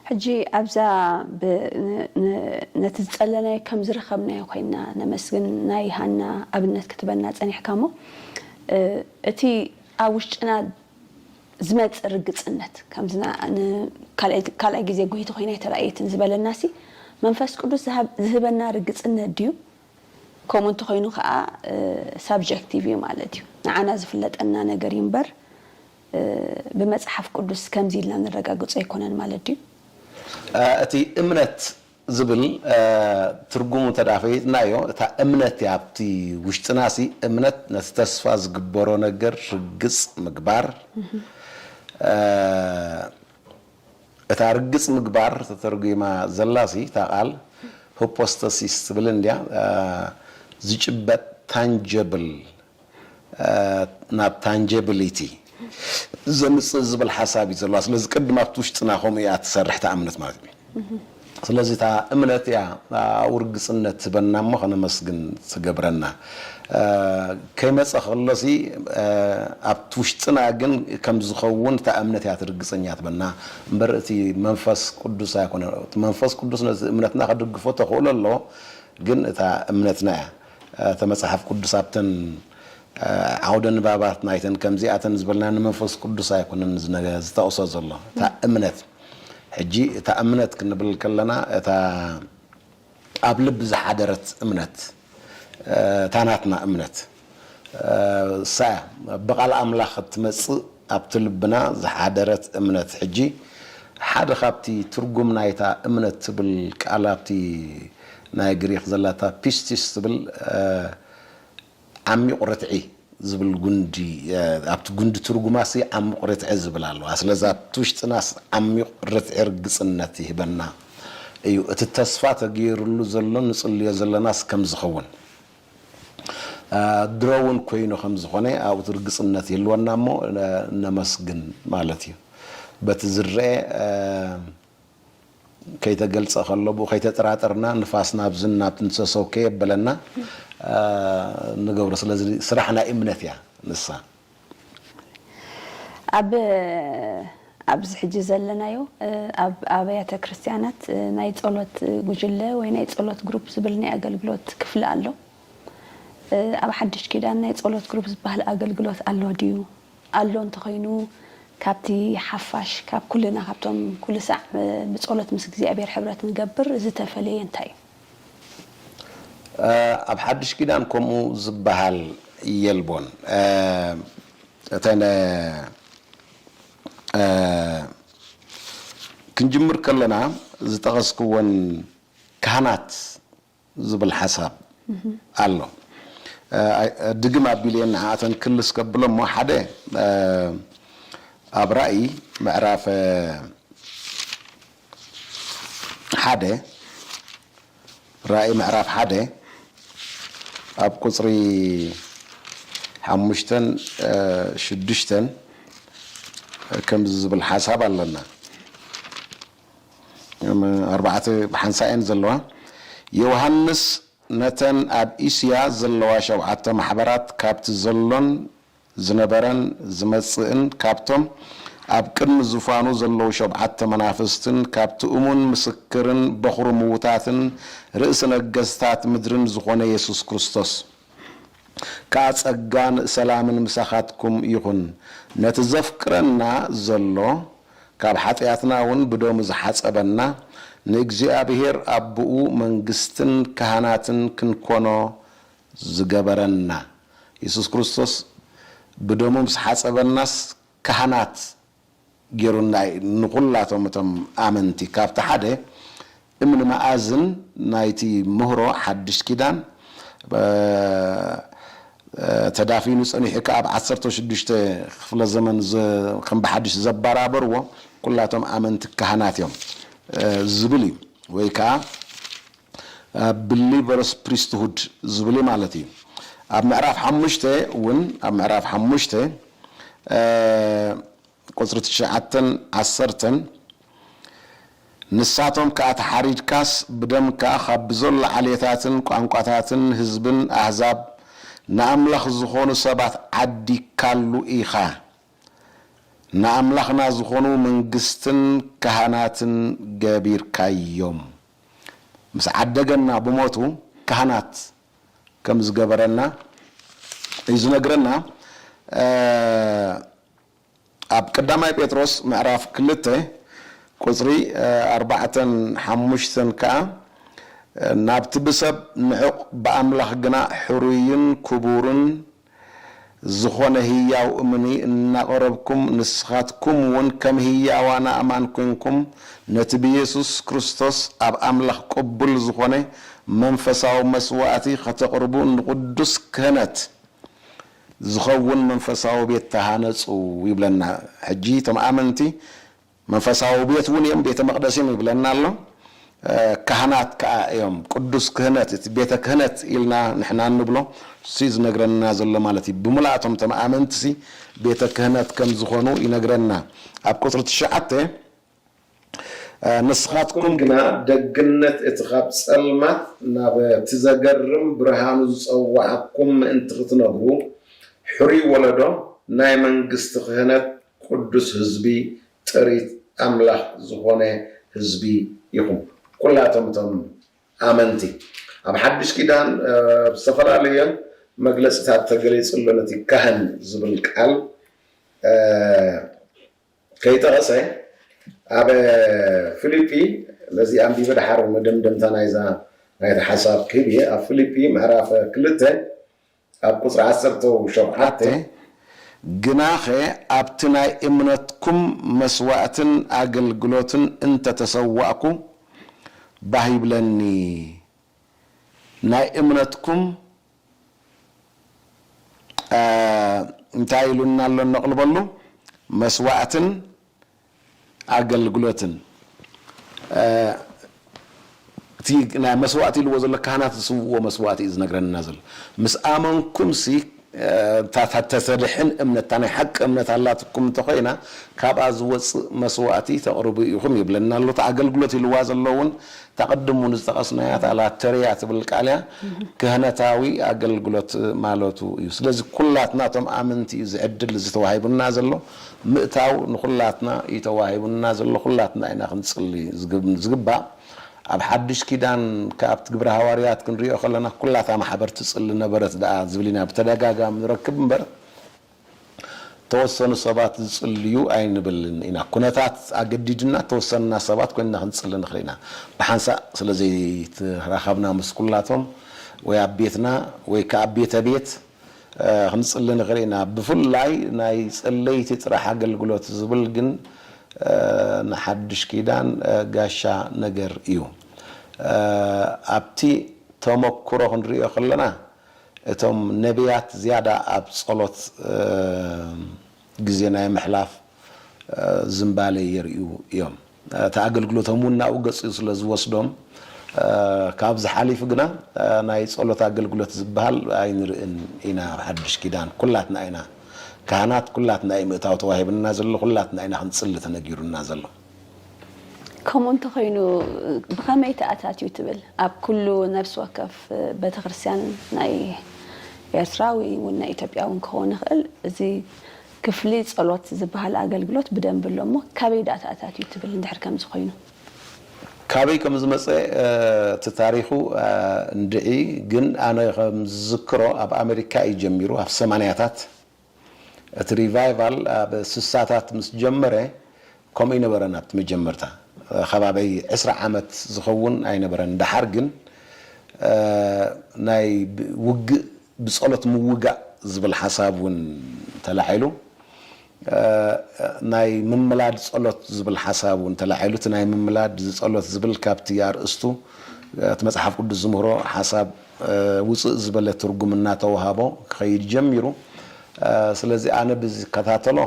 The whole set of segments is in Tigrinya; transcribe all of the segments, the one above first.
ሕጂ ኣብዛ ነቲ ዝጸለናዮ ከም ዝረኸብናዮ ኮይና ነመስግን ናይ ሃና ኣብነት ክትበና ጸኒሕካ እሞ እቲ ኣብ ውሽጥና ዝመጽእ ርግጽነት፣ ከምዚ ንካልኣይ ግዜ ጐይቲ ዀይነ ኣይተራእየትን ዝበለናሲ፣ መንፈስ ቅዱስ ዚህበና ርግጽነት ድዩ? ከምኡ እንተ ዀይኑ ኸኣ ሳብጀክቲቭ እዩ ማለት እዩ። ንዓና ዚፍለጠና ነገር እዩ እምበር፣ ብመጽሓፍ ቅዱስ ከምዚ ኢልና ነረጋግጾ ኣይኰነን ማለት ድዩ? እቲ እምነት ዝብል ትርጉሙ እንተ ፈሊጥናዮ፣ እታ እምነት እያ ኣብቲ ውሽጥናሲ እምነት ነቲ ተስፋ ዝግበሮ ነገር ርግጽ ምግባር፣ እታ ርግጽ ምግባር ተተርጒማ ዘላሲ እታ ቃል ሁፖስተሲስ ትብል እንድያ፣ ዝጭበጥ ታንጀብል ናብ ታንጀብሊቲ ዘምጽእ ዝብል ሓሳብ እዩ ዘለዋ ስለዚ ቅድም ኣብቲ ውሽጥና ከምኡ እያ ትሰርሕ እታ እምነት ማለት እዩ ስለዚ እታ እምነት እያ ኣብኡ ርግጽነት ትህበና እሞ ከነመስግን ትገብረና ከይመጸ ከሎሲ ኣብቲ ውሽጥና ግን ከም ዝኸውን እታ እምነት እያ ትርግጸኛ ትበና እምበር እቲ መንፈስ ቅዱስ ኣይኮነን እቲ መንፈስ ቅዱስ ነቲ እምነትና ክድግፎ ተኽእሎ ኣለዎ ግን እታ እምነትና እያ እተ መጽሓፍ ቅዱስ ኣብተን ዓውደ ንባባት ናይተን ከምዚኣተን ዝበልና ንመንፈስ ቅዱስ ኣይኮነን ዝጠቕሶ ዘሎ እታ እምነት ሕጂ እታ እምነት ክንብል ከለና እታ ኣብ ልቢ ዝሓደረት እምነት እታ ናትና እምነት እሳ እያ ብቓል ኣምላኽ እትመጽእ ኣብቲ ልብና ዝሓደረት እምነት ሕጂ ሓደ ካብቲ ትርጉም ናይታ እምነት ትብል ቃል ኣብቲ ናይ ግሪኽ ዘላታ ፒስቲስ ትብል ዓሚቝ ርትዒ ዝብል ጕንዲ ኣብቲ ጕንዲ ትርጕማሲ ዓሚቝ ርትዒ ዝብል ኣለዋ። ስለዚ ኣብቲ ውሽጥናስ ዓሚቝ ርትዒ ርግጽነት ይህበና እዩ። እቲ ተስፋ ተገይርሉ ዘሎ ንጽልዮ ዘለናስ ከም ዝኸውን ድሮ እውን ኰይኑ ከም ዝዀነ ኣብኡ ርግጽነት ይህልወና እሞ ነመስግን ማለት እዩ። በቲ ዝርኣ ከይተገልጸ ከሎ ብኡ ከይተጠራጠርና ንፋስ ናብዝን ናብትን ሰሰው ከየበለና ንገብሮ ስለዚ ስራሕ ናይ እምነት እያ ንሳ። ኣብ ኣብዚ ሕጂ ዘለናዮ ኣብ ኣብያተ ክርስትያናት ናይ ጸሎት ጉጅለ ወይ ናይ ጸሎት ግሩፕ ዝብል ናይ ኣገልግሎት ክፍሊ ኣሎ። ኣብ ሓድሽ ኪዳን ናይ ጸሎት ግሩፕ ዝበሃል ኣገልግሎት ኣሎ ድዩ? ኣሎ እንተኾይኑ ካብቲ ሓፋሽ ካብ ኩልና ካብቶም ኩልሳዕ ብጸሎት ምስ እግዚኣብሔር ሕብረት ንገብር ዝተፈለየ እንታይ እዩ? ኣብ ሓድሽ ኪዳን ከምኡ ዝበሃል የልቦን እተን ክንጅምር ከለና ዝጠቐስክወን ካህናት ዝብል ሓሳብ ኣሎ ድግም ኣቢለ ንዓኣተን ክልስ ከብሎ እሞ ሓደ ኣብ ራኢ ምዕራፍ ሓደ ራኢ ምዕራፍ ሓደ ኣብ ቁፅሪ ሓሙሽተን ሽዱሽተን ከምዚ ዝብል ሓሳብ ኣለና ኣርባዕተ ብሓንሳእ እየን ዘለዋ። ዮውሃንስ ነተን ኣብ እስያ ዘለዋ ሸውዓተ ማሕበራት ካብቲ ዘሎን ዝነበረን ዝመጽእን ካብቶም ኣብ ቅድሚ ዙፋኑ ዘለዉ ሸውዓተ መናፍስትን ካብቲ እሙን ምስክርን በዅሪ ምዉታትን ርእሲ ነገስታት ምድርን ዝዀነ የሱስ ክርስቶስ ከኣ ጸጋን ሰላምን ምሳኻትኩም ይኹን። ነቲ ዘፍቅረና ዘሎ ካብ ሓጢኣትና ውን ብደሙ ዝሓጸበና ንእግዚኣብሄር ኣቦኡ መንግስትን ካህናትን ክንኮኖ ዝገበረና የሱስ ክርስቶስ ብደሙ ምስ ሓጸበናስ ካህናት ጌሩና እዩ። ንኹላቶም እቶም ኣመንቲ ካብቲ ሓደ እምኒ መኣዝን ናይቲ ምህሮ ሓድሽ ኪዳን ተዳፊኑ ጸኒሑ ከኣ ኣብ ዓሰርተው ሽዱሽተ ክፍለ ዘመን ከም ብሓድሽ ዘበራበርዎ ኩላቶም ኣመንቲ ካህናት እዮም ዝብል እዩ ወይ ከኣ ብሊቨርስ ፕሪስትሁድ ዝብል ማለት እዩ ኣብ ምዕራፍ ሓሙሽተ እውን ኣብ ምዕራፍ ሓሙሽተ ቁጽሪ ትሽዓተን ዓሰርተን ንሳቶም ከኣ ተሓሪድካስ ብደምካ ካብ ብዘሎ ዓሌታትን ቋንቋታትን ህዝብን ኣህዛብ ንኣምላኽ ዝኾኑ ሰባት ዓዲግካሉ ኢኻ፣ ንኣምላኽና ዝኾኑ መንግስትን ካህናትን ገቢርካዮም። ምስ ዓደገና ብሞቱ ካህናት ከም ዝገበረና እዩ ዝነግረና ኣብ ቀዳማይ ጴጥሮስ ምዕራፍ ክልተ ቁጽሪ ኣርባዕተን ሓሙሽተን ከኣ ናብቲ ብሰብ ንዑቕ ብኣምላኽ ግና ሕሩይን ክቡርን ዝኾነ ህያው እምኒ እናቐረብኩም፣ ንስኻትኩምውን ከም ህያዋን ኣእማን ኮይንኩም፣ ነቲ ብየሱስ ክርስቶስ ኣብ ኣምላኽ ቅቡል ዝኾነ መንፈሳዊ መስዋእቲ ኸተቕርቡ ንቕዱስ ክህነት ዝኸውን መንፈሳዊ ቤት ተሃነጹ ይብለና። ሕጂ እቶም ኣመንቲ መንፈሳዊ ቤት እውን እዮም፣ ቤተ መቕደስ እዮም ይብለና ኣሎ። ካህናት ከኣ እዮም፣ ቅዱስ ክህነት፣ እቲ ቤተ ክህነት ኢልና ንሕና እንብሎ እሱ እዩ ዝነግረና ዘሎ ማለት እዩ። ብምሉኣቶም እቶም ኣመንቲሲ ቤተ ክህነት ከም ዝኾኑ ይነግረና። ኣብ ቁጽሪ ትሽዓተ ንስኻትኩም ግና ደግነት እቲ ኻብ ጸልማት ናብ እቲ ዘገርም ብርሃኑ ዝጸውዓኩም ምእንቲ ኽትነግሩ፣ ሕሩይ ወለዶ፣ ናይ መንግስቲ ክህነት፣ ቁዱስ ህዝቢ ጥሪት ኣምላኽ ዝኾነ ህዝቢ ኢኹም ኩላቶም እቶም ኣመንቲ ኣብ ሓዱሽ ኪዳን ብዝተፈላለየ መግለጺታት ተገሊጹ ኣሎ ነቲ ካህን ዝብል ቃል ከይጠቐሰ ኣብ ፊሊጲ ነዚ ኣንቢበ ደሓር መደምደምታ ናይዛ ናይቲ ሓሳብ ክህብ እየ ኣብ ፊሊጲ ምዕራፍ ክልተ ኣብ ቁጽሪ ዓሰርተው ሸውዓተ ግናኸ ኣብቲ ናይ እምነትኩም መስዋእትን ኣገልግሎትን እንተ ተሰዋእኩ ባህ ይብለኒ፣ ናይ እምነትኩም እንታይ ኢሉና ኣሎ እነቕልበሉ መስዋእትን ኣገልግሎትን እቲ ናይ መስዋእቲ ኢልዎ ዘሎ ካህናት ዝስውእዎ መስዋእቲ እዩ ዝነግረና ዘሎ ምስ ኣመንኩም ሲ ተድሕን እምነት ናይ ሓቂ እምነት ኣላትኩም እንተኮይና ካብኣ ዝወፅእ መስዋእቲ ተቕርቡ ኢኹም ይብለና ኣሎ እቲ ኣገልግሎት ኢልዋ ዘሎ እውን እታ ቅድም እውን ዝጠቐስናያ እታ ላተርያ ትብል ቃል እያ ክህነታዊ ኣገልግሎት ማለቱ እዩ ስለዚ ኩላትና እቶም ኣመንቲ እዩ ዝዕድል ዝተዋሂቡና ዘሎ ምእታው ንኹላትና እዩ ተዋሂቡና ዘሎ ኩላትና ኢና ክንጽሊ ዝግባእ ኣብ ሓድሽ ኪዳን ክኣ ኣብቲ ግብረ ሃዋርያት ክንሪኦ ከለና ኩላታ ማሕበር ትጽሊ ነበረት ድኣ ዝብል ኢና ብተደጋጋሚ ንረክብ እምበር ተወሰኑ ሰባት ዝጽልዩ ኣይንብልን ኢና ኩነታት ኣገዲድና ተወሰንና ሰባት ኮይንና ክንጽሊ ንኽል ኢና ብሓንሳእ ስለዘይተራኸብና ምስ ኩላቶም ወይ ኣብ ቤትና ወይ ክኣ ቤተ ቤት ክንጽሊ ንኽእል ኢና። ብፍላይ ናይ ጸለይቲ ጥራሕ ኣገልግሎት ዝብል ግን ንሓድሽ ኪዳን ጋሻ ነገር እዩ። ኣብቲ ተመኩሮ ክንርእዮ ከለና እቶም ነብያት ዝያዳ ኣብ ጸሎት ግዜ ናይ ምሕላፍ ዝንባሌ የርእዩ እዮም። እቲ ኣገልግሎቶም እውን ናብኡ ገጹ ስለ ዝወስዶም፣ ካብዚ ሓሊፉ ግና ናይ ጸሎት ኣገልግሎት ዝበሃል ኣይንርእን ኢና። ኣብ ሓድሽ ኪዳን ኩላትና ኢና ካህናት፣ ኩላትና እዩ ምእታው ተዋሂብና ዘሎ፣ ኩላትና ኢና ክንጽሊ ተነጊሩና ዘሎ። ከምኡ እንተኾይኑ ብኸመይ ተኣታትዩ ትብል? ኣብ ኩሉ ነፍሲ ወከፍ ቤተክርስትያን ናይ ኤርትራ ወይ እውን ናይ ኢትዮጵያ እውን ክኸውን ይኽእል እዚ ክፍሊ ጸሎት ዝበሃል ኣገልግሎት ብደንቢ ኣሎ እሞ ካበይ ደኣ ተኣታትዩ ትብል እንድሕር ከምዚ ኮይኑ? ካበይ ከም ዝመጸ እቲ ታሪኹ እንድዒ ግን ኣነ ከም ዝዝክሮ ኣብ ኣመሪካ እዩ ጀሚሩ ኣብ ሰማንያታት እቲ ሪቫይቫል ኣብ ስሳታት ምስ ጀመረ ከምኡ ኣይነበረን ኣብቲ መጀመርታ ከባበይ ዕስራ ዓመት ዝኸውን ኣይነበረን ደሓር ግን ናይ ውግእ ብጸሎት ምውጋእ ዝብል ሓሳብ ውን ተላዒሉ ናይ ምምላድ ጸሎት ዝብል ሓሳብ ውን ተላዒሉ እቲ ናይ ምምላድ ዝጸሎት ዝብል ካብቲ ኣርእስቱ እቲ መጽሓፍ ቅዱስ ዝምህሮ ሓሳብ ውጽእ ዝበለ ትርጉም እናተወሃቦ ክኸይድ ጀሚሩ። ስለዚ ኣነ ብዝከታተሎ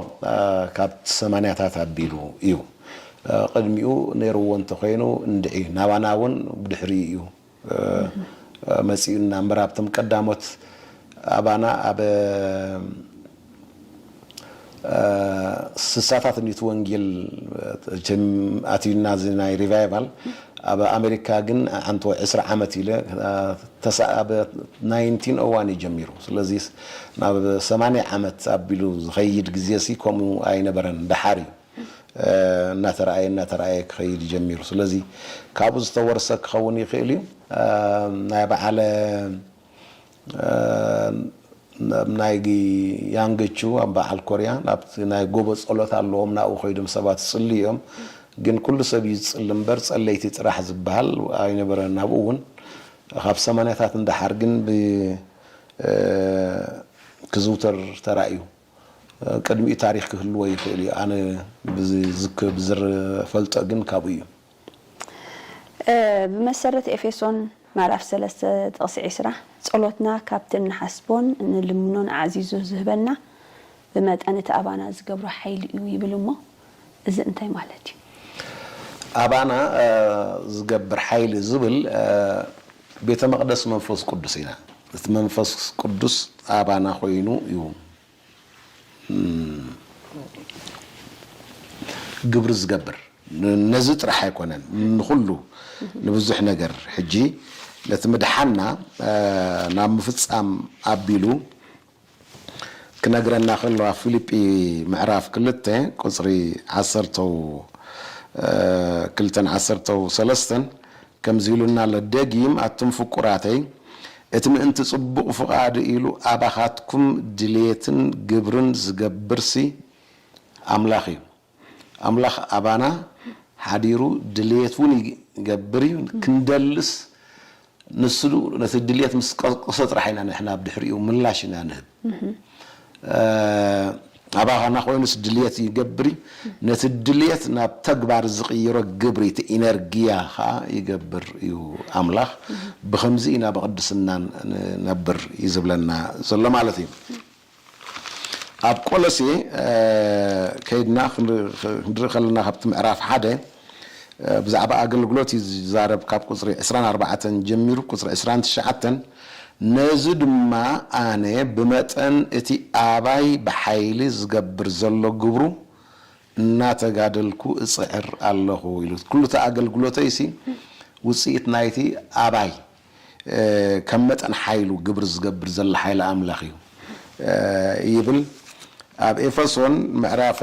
ካብ ሰማንያታት ኣቢሉ እዩ። ቅድሚኡ ነይሩዎ እንተኾይኑ እንድዒ ናባና እውን ብድሕሪኡ እዩ መጺኡና እምበር ኣብቶም ቀዳሞት ኣባና ኣብ ስሳታት እንዲዩ እቲ ወንጌል እቸም ኣትዩና እዚ ናይ ሪቫይቫል ኣብ ኣሜሪካ ግን ኣንተ ዕስራ ዓመት ኢለ ተሳ ኣብ ናይንቲን ኦ ዋን እዩ ጀሚሩ ስለዚ ናብ ሰማንያ ዓመት ኣቢሉ ዝኸይድ ግዜ ሲ ከምኡ ኣይነበረን ደሓር እዩ እናተረኣየ እናተረኣየ ክኸይድ እዩ ጀሚሩ ስለዚ ካብኡ ዝተወርሰ ክኸውን ይኽእል እዩ ናይ በዓለ ኣብ ናይ ያንገቹ ኣብ በዓል ኮርያ ናብቲ ናይ ጎቦ ጸሎት ኣለዎም ናብኡ ከይዶም ሰባት ይጽልዩ እዮም ግን ኩሉ ሰብ እዩ ዝጽሊ እምበር ጸለይቲ ጥራሕ ዝብሃል ኣይነበረን ናብኡ እውን ካብ ሰማንያታት ንደሓር ግን ብ ክዝውተር ተራእዩ ቅድሚኡ ታሪኽ ክህልዎ ይኽእል እዩ ኣነ ብዝፈልጦ ግን ካብኡ እዩ። ብመሰረት ኤፌሶን ምዕራፍ ሰለስተ ጥቕሲ ዕስራ፣ ጸሎትና ካብቲ እንሓስቦን እንልምኖን ኣዕዚዙ ዝህበና ብመጠን እቲ ኣባና ዝገብሮ ሓይሊ እዩ ይብል እሞ እዚ እንታይ ማለት እዩ? ኣባና ዝገብር ሓይሊ ዝብል ቤተ መቕደስ መንፈስ ቅዱስ ኢና። እቲ መንፈስ ቅዱስ ኣባና ኮይኑ እዩ ግብሪ ዝገብር ነዚ ጥራሕ ኣይኮነን ንኹሉ ንብዙሕ ነገር ሕጂ ነቲ ምድሓንና ናብ ምፍጻም ኣቢሉ ክነግረና ከሎ ኣብ ፊልጲ ምዕራፍ ክልተ ቁጽሪ ዓሰርተው ክልተን ዓሰርተው ሰለስተን ከምዚ ኢሉና ኣሎ ደጊም ኣቱም ፍቁራተይ እቲ ምእንቲ ጽቡቕ ፍቓዱ ኢሉ ኣባኻትኩም ድሌትን ግብርን ዝገብርሲ ኣምላኽ እዩ። ኣምላኽ ኣባና ሓዲሩ ድሌት እውን ይገብር እዩ። ክንደልስ ንሱ ነቲ ድሌት ምስ ቀስቀሶ ጥራሕ ኢና ንሕና ኣብ ድሕሪኡ ምላሽ ኢና ንህብ። ኣባኻና ኮይኑስ ድልየት ይገብሪ ነቲ ድልየት ናብ ተግባር ዝቅይሮ ግብሪ እቲ ኢነርጊያ ከኣ ይገብር እዩ ኣምላኽ ብኸምዚ ኢና ብቅድስና ንነብር እዩ ዝብለና ዘሎ ማለት እዩ ኣብ ቆሎሴ ከይድና ክንርኢ ከለና ካብቲ ምዕራፍ ሓደ ብዛዕባ ኣገልግሎት እዩ ዚዛረብ፣ ካብ ቍጽሪ ዕስራን ኣርባዕተን ጀሚሩ ቍጽሪ ዕስራን ትሽዓተን፣ ነዚ ድማ ኣነ ብመጠን እቲ ኣባይ ብሓይሊ ዚገብር ዘሎ ግብሩ እናተጋደልኩ እጽዕር ኣለኹ ኢሉ። ኵሉ እቲ ኣገልግሎተይሲ ውጽኢት ናይቲ ኣባይ ከም መጠን ሓይሉ ግብሪ ዝገብር ዘሎ ሓይሊ ኣምላኽ እዩ ይብል ኣብ ኤፈሶን ምዕራፈ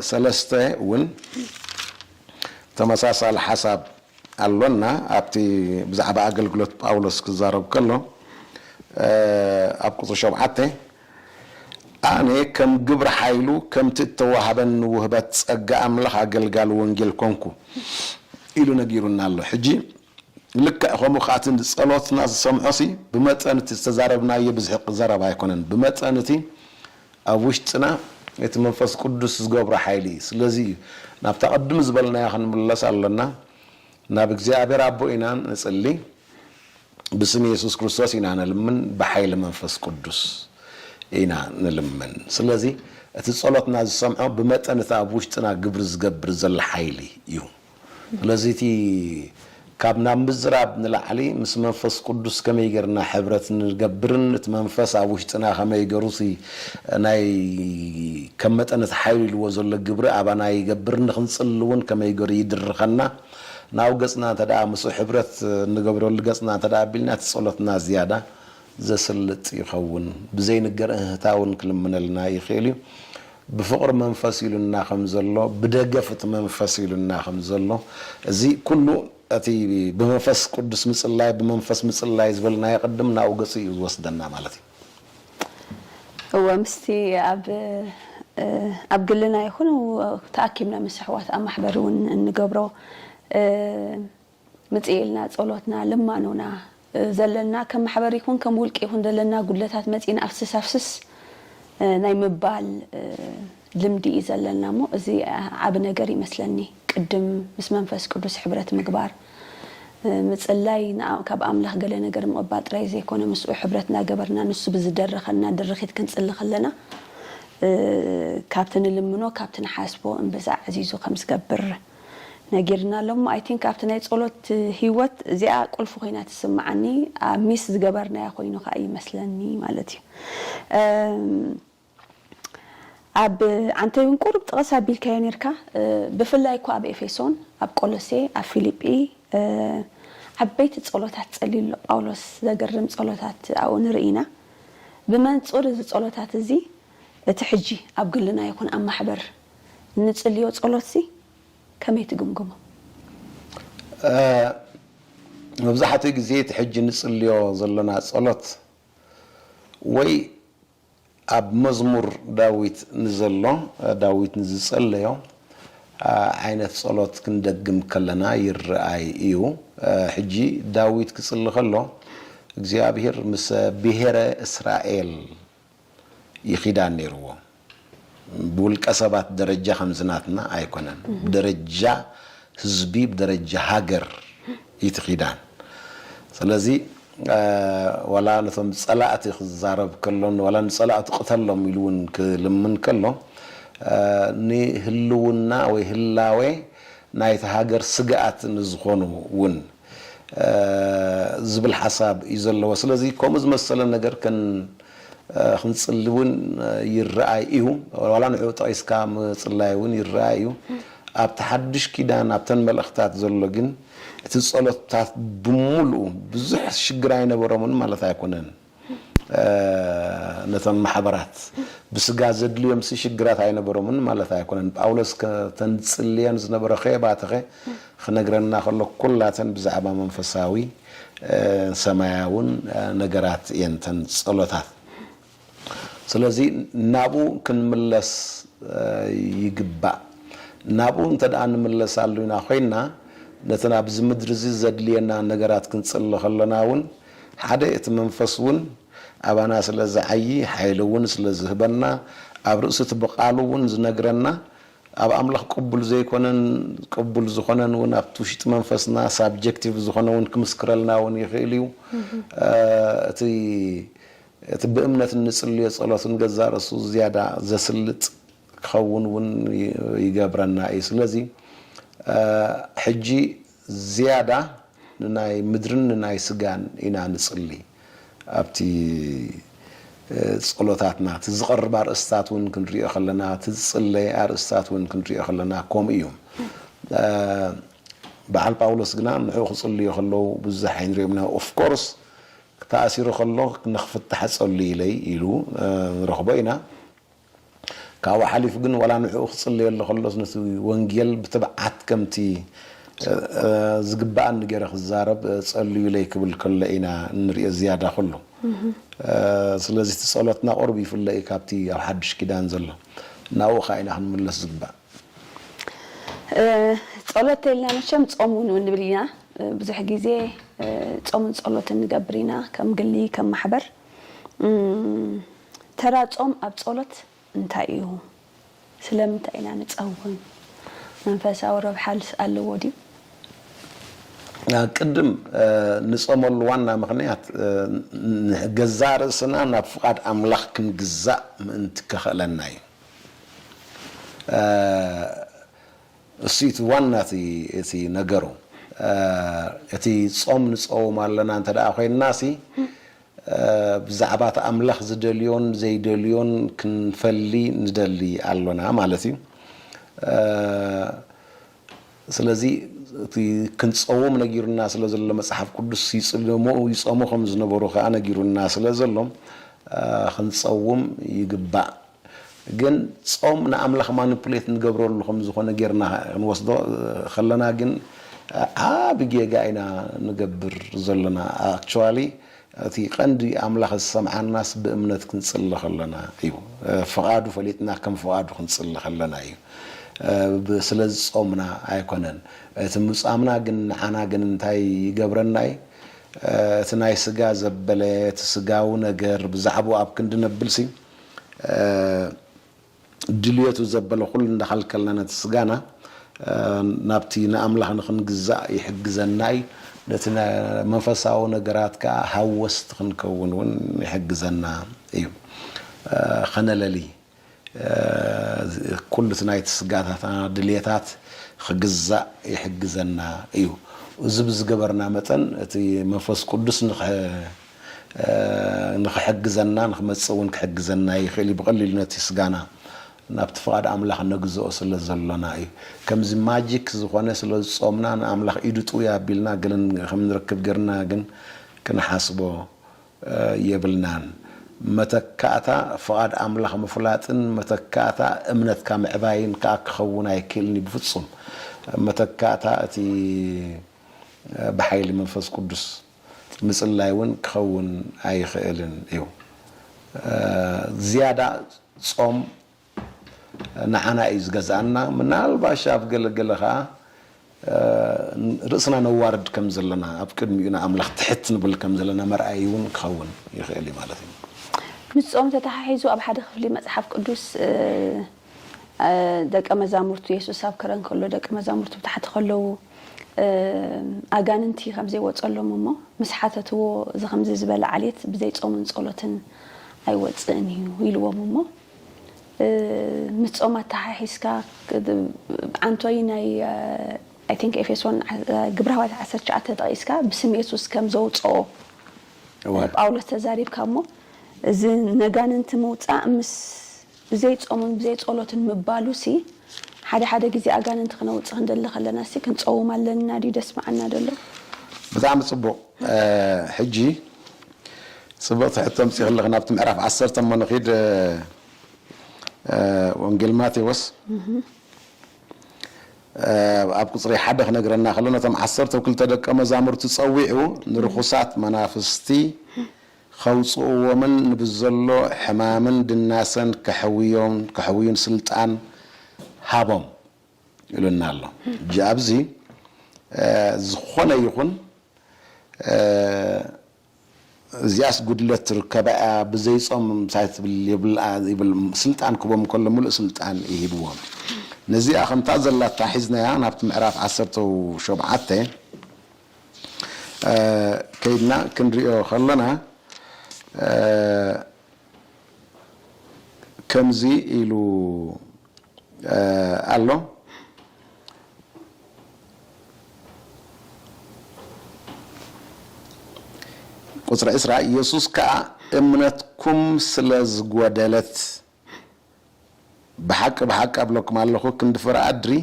ሰለስተ እውን ተመሳሳሊ ሓሳብ ኣሎና ኣብቲ ብዛዕባ ኣገልግሎት ጳውሎስ ክዛረብ ከሎ ኣብ ቁፅሪ ሸውዓተ ኣነ ከም ግብሪ ሓይሉ ከምቲ እተዋህበኒ ውህበት ጸጋ ኣምላኽ ኣገልጋሊ ወንጌል ኮንኩ ኢሉ ነጊሩና ኣሎ ሕጂ ልክዕ ከምኡ ከኣ እቲ ንጸሎትና ዝሰምዖሲ ብመጠን እቲ ዝተዛረብናዮ ብዝሒ ዘረባ ኣይኮነን ብመጠን እቲ ኣብ ውሽጥና እቲ መንፈስ ቅዱስ ዝገብሮ ሓይሊ እዩ ስለዚ እዩ ናብታ ቅድም ዝበልናዮ ክንምለስ ኣሎና ናብ እግዚኣብሔር ኣቦ ኢና ንጽሊ ብስም የሱስ ክርስቶስ ኢና ንልምን ብሓይሊ መንፈስ ቅዱስ ኢና ንልምን ስለዚ እቲ ጸሎትና ዝሰምዖ ብመጠን እቲ ኣብ ውሽጥና ግብሪ ዝገብር ዘሎ ሓይሊ እዩ ስለዚ እቲ ካብ ናብ ምዝራብ ንላዕሊ ምስ መንፈስ ቅዱስ ከመይ ጌርና ሕብረት ንገብርን እቲ መንፈስ ኣብ ውሽጥና ከመይ ገሩ እቲ ናይ ከም መጠን እቲ ሓይሉ ኢልዎ ዘሎ ግብሪ ኣባና ይገብር ንክንጽሊ እውን ከመይ ገሩ ይድርኸና ናብኡ ገጽና እንተ ምስኡ ሕብረት እንገብረሉ ገጽና እንተ ኣቢልና እቲ ጸሎትና ዝያዳ ዘስልጥ ይኸውን። ብዘይ ንገር እህህታ እውን ክልምነልና ይኽእል እዩ። ብፍቕሪ መንፈስ ኢሉና ከም ዘሎ፣ ብደገፍ እቲ መንፈስ ኢሉና ከም ዘሎ፣ እዚ ኩሉ እቲ ብመንፈስ ቅዱስ ምጽላይ፣ ብመንፈስ ምጽላይ ዝበልናዮ ቅድም ናብኡ ገጹ እዩ ዝወስደና ማለት እዩ። እወ ምስቲ ኣብ ኣብ ግልና ይኹን ተኣኪብና ምስ ኣሕዋት ኣብ ማሕበር እውን እንገብሮ ምጽኢልና ጸሎትና ልማኖና ዘለና ከም ማሕበር ይኹን ከም ውልቂ ይኹን ዘለና ጉድለታት መጺእና ኣፍስስ ኣፍስስ ናይ ምባል ልምዲ እዩ ዘለና እሞ እዚ ዓቢ ነገር ይመስለኒ ቅድም ምስ መንፈስ ቅዱስ ሕብረት ምግባር ምጽላይ ካብ ኣምላኽ ገለ ነገር ምቕባል ጥራይ ዘይኮነ ምስኡ ሕብረት ናገበርና ንሱ ብዝደረኸልና ድርኺት ክንጽሊ ከለና ካብቲ ንልምኖ ካብቲ ንሓስቦ እምብዛ ኣዕዚዙ ከም ዝገብር ነጊርናሎም እሞ ኣይ ቲንክ ኣብቲ ናይ ጸሎት ሂወት እዚኣ ቁልፊ ኮይና ትስምዓኒ ኣብ ሚስ ዝገበርናዮ ኮይኑ ከኣ ይመስለኒ ማለት እዩ ኣብ ዓንተይ ውን ቁሩብ ጥቕስ ኣቢልካዮ ኔርካ ብፍላይ እኳ ኣብ ኤፌሶን ኣብ ቆሎሴ ኣብ ፊሊጲ ዓበይቲ ጸሎታት ጸልዩ ኣሎ ጳውሎስ ዘገርም ጸሎታት ኣብኡ ንርኢ ኢና ብመንጹር እዚ ጸሎታት እዚ እቲ ሕጂ ኣብ ግልና ይኹን ኣብ ማሕበር እንጽልዮ ጸሎትሲ ከመይ ትግምግሞ? መብዛሕትኡ ግዜ እቲ ሕጂ እንጽልዮ ዘሎና ጸሎት ወይ ኣብ መዝሙር ዳዊት ንዘሎ ዳዊት ንዝጸለዮ ዓይነት ጸሎት ክንደግም ከለና ይርኣይ እዩ። ሕጂ ዳዊት ክጽሊ ከሎ እግዚኣብሄር ምስ ብሄረ እስራኤል ይኺዳን ነይርዎ ብውልቀ ሰባት ደረጃ ከምዚ ናትና ኣይኮነን ብደረጃ ህዝቢ ብደረጃ ሃገር እዩ እቲ ኪዳን ስለዚ ዋላ ነቶም ፀላእቲ ክዛረብ ከሎ ዋላ ንፀላእቱ ቅተሎም ኢሉ እውን ክልምን ከሎ ንህልውና ወይ ህላዌ ናይቲ ሃገር ስግኣት ንዝኾኑ እውን ዝብል ሓሳብ እዩ ዘለዎ። ስለዚ ከምኡ ዝመሰለ ነገር ክንጽሊ እውን ይረኣይ እዩ። ዋላ ንዕኡ ጠቒስካ ምጽላይ እውን ይረኣይ እዩ። ኣብቲ ሓድሽ ኪዳን ኣብተን መልእኽታት ዘሎ ግን እቲ ጸሎትታት ብምሉኡ ብዙሕ ሽግር ኣይነበሮምን ማለት ኣይኮነን። ነቶም ማሕበራት ብስጋ ዘድልዮምሲ ሽግራት ኣይነበሮምን ማለት ኣይኮነን። ጳውሎስ ከተን ዝጽልየን ዝነበረ ኼባትኸ ኽነግረና ኸሎ ኵላተን ብዛዕባ መንፈሳዊ ሰማያውን ነገራት እየን እተን ጸሎታት። ስለዚ ናብኡ ክንምለስ ይግባእ። ናብኡ እንተ ደኣ ንምለሳሉ ኢና ዄንና ነተን ኣብዚ ምድሪ እዚ ዘድልየና ነገራት ክንጽሊ ኸሎና እውን ሓደ እቲ መንፈስ እውን ኣባና ስለ ዝዓዪ ሓይሊ እውን ስለ ዝህበና ኣብ ርእሲ እቲ ብቃሉ እውን ዝነግረና ኣብ ኣምላኽ ቅቡል ዘይኮነን ቅቡል ዝኾነን እውን ኣብቲ ውሽጢ መንፈስና ሳብጀክቲቭ ዝኾነ እውን ክምስክረልና እውን ይኽእል እዩ እቲ እቲ ብእምነት እንጽልዮ ጸሎት ንገዛእ ርእሱ ዝያዳ ዘስልጥ ክኸውን እውን ይገብረና እዩ ስለዚ ሕጂ ዝያዳ ንናይ ምድርን ንናይ ስጋን ኢና ንጽሊ ኣብቲ ጸሎታትና እቲ ዝቐርብ ኣርእስታት ውን ክንሪኦ ከለና እቲ ዝጽለ ኣርእስታት ውን ክንሪኦ ከለና ከምኡ እዩ በዓል ጳውሎስ ግና ንዕኡ ክጽልዩ ከለዉ ብዙሕ ኣይንሪኦም ኢና of course ተኣሲሩ ከሎ ንኽፍታሕ ጸልዩ ኢለይ ኢሉ ንረኽቦ ኢና ካብኡ ሓሊፉ ግን ዋላ ንዕኡ ክጽልየሉ ከሎስ ነቲ ወንጌል ብትብዓት ከምቲ ዝግብኣኒ ገይረ ክዛረብ ጸልዩለይ ክብል ከሎ ኢና እንርእዮ ዝያዳ ኩሉ። ስለዚ እቲ ጸሎትና ቁሩብ ይፍለ እዩ ካብቲ ኣብ ሓዱሽ ኪዳን ዘሎ። ናብኡ ከኣ ኢና ክንምለስ ዝግባእ። ጸሎት ተይልና መቸም ጾም ውን ንብል ኢና። ብዙሕ ግዜ ጾምን ጸሎትን ንገብር ኢና ከም ግሊ ከም ማሕበር። ተራ ጾም ኣብ ጸሎት እንታይ እዩ? ስለምንታይ ኢና ንጸውም? መንፈሳዊ ረብሓልስ ኣለዎ ድዩ? ቅድም ንጾመሉ ዋና ምኽንያት ንገዛእ ርእስና ናብ ፍቓድ ኣምላኽ ክንግዛእ ምእንቲ ከኽእለና እዩ። እሱ'ዩ እቲ ዋና እቲ ነገሩ። እቲ ጾም ንጸውም ኣለና እንተደኣ ኮይንና'ሲ፣ ብዛዕባ እቲ ኣምላኽ ዝደልዮን ዘይደልዮን ክንፈሊ ንደሊ ኣሎና ማለት እዩ። ስለዚ እቲ ክንጸውም ነጊሩና ስለ ዘሎ መጽሓፍ ቅዱስ ይጽልሙ ይጾሙ ከም ዝነበሩ ከኣ ነጊሩና ስለ ዘሎ ክንጸውም ይግባእ። ግን ጾም ንኣምላኽ ማኑፕሌት ንገብረሉ ከም ዝኾነ ጌርና ክንወስዶ ከለና ግን ዓቢ ጌጋ ኢና ንገብር ዘሎና ኣክቹዋሊ እቲ ቀንዲ ኣምላኽ ዝሰምዓናስ ብእምነት ክንጽሊ ከለና እዩ ፍቓዱ ፈሊጥና ከም ፍቓዱ ክንጽሊ ከለና እዩ ብ ስለ ዝጾምና ኣይኮነን እቲ ምጻምና ግን ንዓና ግን እንታይ ይገብረና እዩ እቲ ናይ ስጋ ዘበለ እቲ ስጋዊ ነገር ብዛዕብኡ ኣብ ክንዲ ነብልሲ ድልየቱ ዘበለ ኹሉ እንዳኸልከልና ነቲ ስጋና ናብቲ ንኣምላኽ ንኽንግዛእ ይሕግዘና እዩ። ነቲ መንፈሳዊ ነገራት ከኣ ሃወስቲ ክንከውን እውን ይሕግዘና እዩ። ኸነለሊ ኩሉ እቲ ናይቲ ስጋታትና ድልየታት ኽግዛእ ይሕግዘና እዩ። እዚ ብዝገበርና መጠን እቲ መንፈስ ቅዱስ ንኽሕግዘና ንኽመጽእ እውን ክሕግዘና ይኽእል እዩ። ብቐሊሉ ነቲ ስጋና ናብቲ ፍቓድ ኣምላኽ ነግዝኦ ስለ ዘሎና እዩ። ከምዚ ማጂክ ዝኾነ ስለ ዝጾምና ንኣምላኽ ኢዱ ጥውይ ኣቢልና ገለ ከም ንረክብ ጌርና ግን ክንሓስቦ የብልናን። መተካእታ ፍቓድ ኣምላኽ ምፍላጥን መተካእታ እምነትካ ምዕባይን ከኣ ክኸውን ኣይክእልን እዩ ብፍጹም። መተካእታ እቲ ብሓይሊ መንፈስ ቅዱስ። ምጽላይ ውን ክኸውን ኣይኽእልን እዩ። ዝያዳ ጾም ንዓና እዩ ዝገዝኣና። ምናልባሽ ኣብ ገለ ገለ ከኣ ርእስና ነዋርድ ከም ዘለና፣ ኣብ ቅድሚኡ ንኣምላኽ ትሕት ንብል ከም ዘለና መርኣዪ ውን ክኸውን ይኽእል እዩ ማለት እዩ። ምስ ጾም ተተሓሒዙ ኣብ ሓደ ክፍሊ መጽሓፍ ቅዱስ ደቀ መዛሙርቱ የሱስ ኣብ ከረን ከሎ ደቀ መዛሙርቱ ብ ታሕቲ ከለዉ ኣጋንንቲ ከም ዘይወጸሎም እሞ ምስ ሓተትዎ እዚ ከምዚ ዝበለ ዓሌት ብዘይ ጾምን ጸሎትን ኣይወጽእን እዩ ኢልዎም እሞ ምስ ጾም ኣተሓሒዝካ ዓንቶይ ናይ ኣይ ቲንክ ኤፌሶን ግብረ ሃዋርያት ዓሰርተ ትሽዓተ ጠቒስካ ብስም የሱስ ከም ዘውጽኦ ጳውሎስ ተዛሪብካ እሞ እዚ ነጋንንቲ ምውጻእ ምስ ብዘይ ጾምን ብዘይ ጸሎትን ምባሉሲ ሓደ ሓደ ግዜ ኣጋንንቲ ክነውጽ ክንደሊ ከለናሲ ክንጸውም ኣለንና ድዩ ደስምዓና ደሎ። ብጣዕሚ ጽቡቅ ሕጂ ጽብቅቲ ሕቶ ኣምጺኪ ኣለኪ ናብቲ ምዕራፍ ዓሰርተ እሞ ንኪድ ወንጌል ማቴዎስ ኣብ ቁጽሪ ሓደ ክነግረና ከሎ ነቶም ዓሰርተው ክልተ ደቀ መዛሙርቲ ጸዊዑ ንርኹሳት መናፍስቲ ከውጽእዎምን ንብዘሎ ሕማምን ድናሰን ከሕውዮን ከሕውዩን ስልጣን ሃቦም ኢሉና ኣሎ። እጂ ኣብዚ ዝኾነ ይኹን እዚኣስ ጉድለት ትርከባ ኢያ ብዘይ ጾም ምሳይ ትብል የብልኣ ይብል ስልጣን ክህቦም ከሎ ምሉእ ስልጣን ኢዩ ሂብዎም። ነዚኣ ከምታ ዘላታ ሒዝናያ ናብቲ ምዕራፍ ዓሰርተው ሾብዓተ ከይድና ክንሪኦ ከለና ከምዚ ኢሉ ኣሎ ቁፅሪ ዕስራ የሱስ ከዓ እምነትኩም ስለ ዝጎደለት ብሓቂ ብሓቂ ኣብለኩም ኣለኩ ክንዲ ፍረ ኣድሪ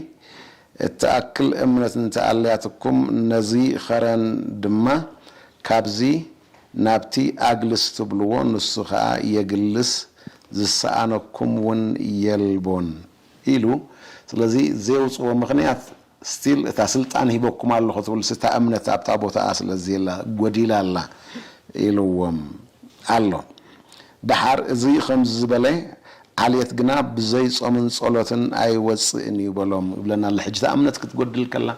እትኣክል እምነት እንተ ኣልያትኩም ነዚ ከረን ድማ ካብዚ ናብቲ ኣግልስ ትብልዎ ንሱ ከኣ የግልስ ዝሰኣነኩም ውን የልቦን ኢሉ ስለዚ ዜውጽዎ ምክንያት Still እታ ስልጣን ሂበኩም ኣለኹ ትብልስ እታ እምነት ኣብታ ቦታኣ ስለዘየላ ጎዲላ ኣላ ኢልዎም ኣሎ። ደሓር እዚ ከምዚ ዝበለ ዓሌት ግና ብዘይ ጾምን ጸሎትን ኣይወጽእን እዩ በሎም ይብለና ኣሎ። ሕጂ እታ እምነት ክትጎድል ከላ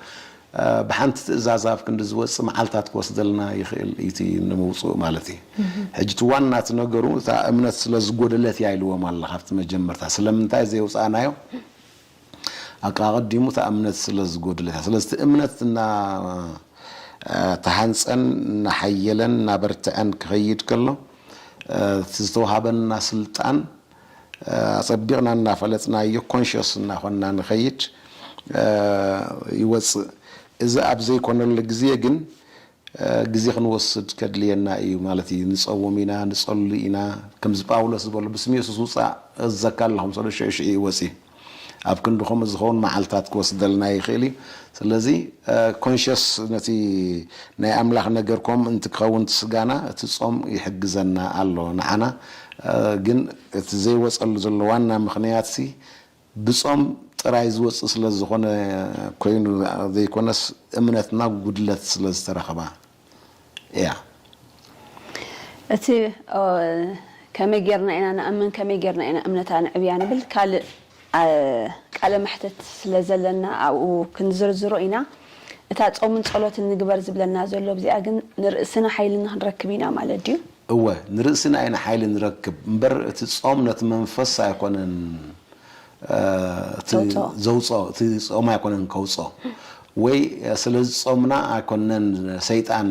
ብሓንቲ ትእዛዝ ኣብ ክንዲ ዝወጽእ መዓልታት ክወስደልና ይኽእል እዩ እቲ ንምውጽኡ ማለት እዩ። ሕጂ እቲ ዋና እቲ ነገሩ እታ እምነት ስለዝጎደለት እያ ኢልዎም ኣሎ ካብቲ መጀመርታ ስለምንታይ ዘየውጻእናዮ? ኣቀኣቀዲሙ እታ እምነት ስለ ዝጎደለት እያ ስለዚ እቲ እምነት እና ተሃንጸን እናሓየለን እናበርትዐን ክኸይድ ከሎ እቲ ዝተውሃበና ስልጣን ኣጸቢቕና እናፈለጥናዮ ኮንሽስ እናኾንና ንኸይድ ይወጽእ እዚ ኣብ ዘይኮነሉ ግዜ ግን ግዜ ክንወስድ ከድልየና እዩ ማለት እዩ ንጸውም ኢና ንጸሉ ኢና ከምዚ ጳውሎስ ዝበሎ ብስም የሱስ ውጻእ እዘካ ኣለኹ ምስ በሎ ሽዑ ሽዑ እዩ ወጺኡ ኣብ ክንዲ ከምኡ ዝኸውን መዓልታት ክወስደልና ይኽእል እዩ ስለዚ ኮንሸስ ነቲ ናይ ኣምላኽ ነገር ኮም እንቲ ክኸውን እቲ ስጋና እቲ ጾም ይሕግዘና ኣሎ ንዓና ግን እቲ ዘይወጸሉ ዘሎ ዋና ምኽንያትሲ ብጾም ጥራይ ዝወጽእ ስለ ዝኾነ ኮይኑ ዘይኮነስ እምነትና ጉድለት ስለ ዝተረኽባ እያ። እቲ ከመይ ጌርና ኢና ንኣምን ከመይ ጌርና ኢና እምነታ ንዕብያ ንብል ካልእ ቃለ መሕትት ስለ ዘለና ኣብኡ ክንዝርዝሮ ኢና። እታ ጾምን ጸሎትን ንግበር ዝብለና ዘሎ ብዚኣ ግን ንርእስና ሓይሊ ንኽንረክብ ኢና ማለት ድዩ? እወ ንርእስና ኢና ሓይሊ ንረክብ እምበር እቲ ጾም ነቲ መንፈስ ኣይኮነን እቲ ዘውጾ እቲ ጾም ኣይኮነን ከውጾ ወይ ስለ ዝጾምና ኣይኮነን ሰይጣን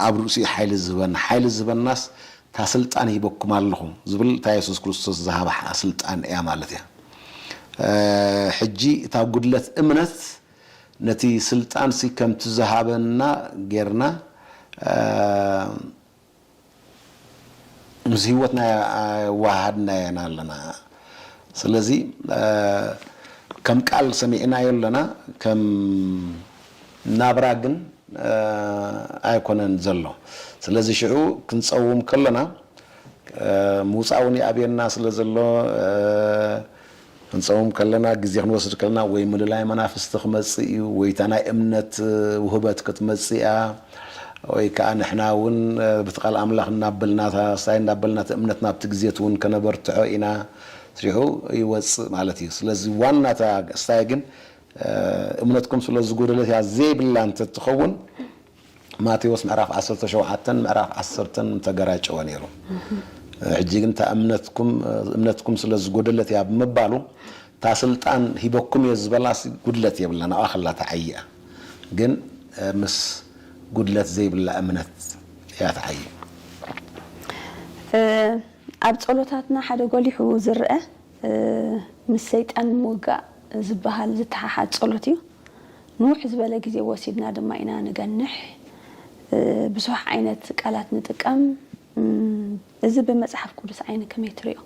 ኣብ ርእሲኡ ሓይሊ ዝህበና ሓይሊ ዝህበናስ እታ ስልጣን ሂበኩም ኣለኹ ዝብል እታ የሱስ ክርስቶስ ዝሃባ ስልጣን እያ ማለት እያ ሕጂ እታ ጉድለት እምነት ነቲ ስልጣንሲ ከምቲ ዝሃበና ጌርና ምስ ህይወትና ኣየወሃሃድናዮ ኢና ኣለና። ስለዚ ከም ቃል ሰሚዕናዮ ኣለና፣ ከም ናብራ ግን ኣይኮነን ዘሎ። ስለዚ ሽዑ ክንጸውም ከሎና ምውጻእ እውን ይኣብየና ስለ ዘሎ፣ ክንጸውም ከለና ግዜ ክንወስድ ከለና ወይ ምልላይ መናፍስቲ ክመጽእ እዩ ወይ እታ ናይ እምነት ውህበት ክትመጽእ እያ ወይ ከኣ ንሕና እውን ብቲ ቃል ኣምላኽ እናበልና ሳይ እናበልና እቲ እምነት ናብቲ ግዜት እውን ከነበርትሖ ኢና ስሪሑ ይወጽእ ማለት እዩ ስለዚ ዋና እታ ሳይ ግን እምነትኩም ስለ ዝጎደለት እያ ዘይብላ እንተትኸውን ማቴዎስ ምዕራፍ ዓሰርተ ሸውዓተን ምዕራፍ ዓሰርተን ምተገራጨወ ነይሩ። ሕጂ ግን እታ እምነትኩም እምነትኩም ስለ ዝጎደለት እያ ብምባሉ እታ ስልጣን ሂበኩም እየ ዝበላስ ጉድለት የብላን ኣብኣ ከላ ትዓዪ እያ ግን ምስ ጉድለት ዘይብላ እምነት እያ ትዓዪ። ኣብ ጸሎታትና ሓደ ጎሊሑ ዝርኣ ምስ ሰይጣን ምውጋእ ዝበሃል ዝተሓሓዝ ጸሎት እዩ። ንውሕ ዝበለ ግዜ ወሲድና ድማ ኢና ንገንሕ። ብዙሕ ዓይነት ቃላት ንጥቀም። እዚ ብመጽሓፍ ቅዱስ ዓይኒ ከመይ ትሪኦ?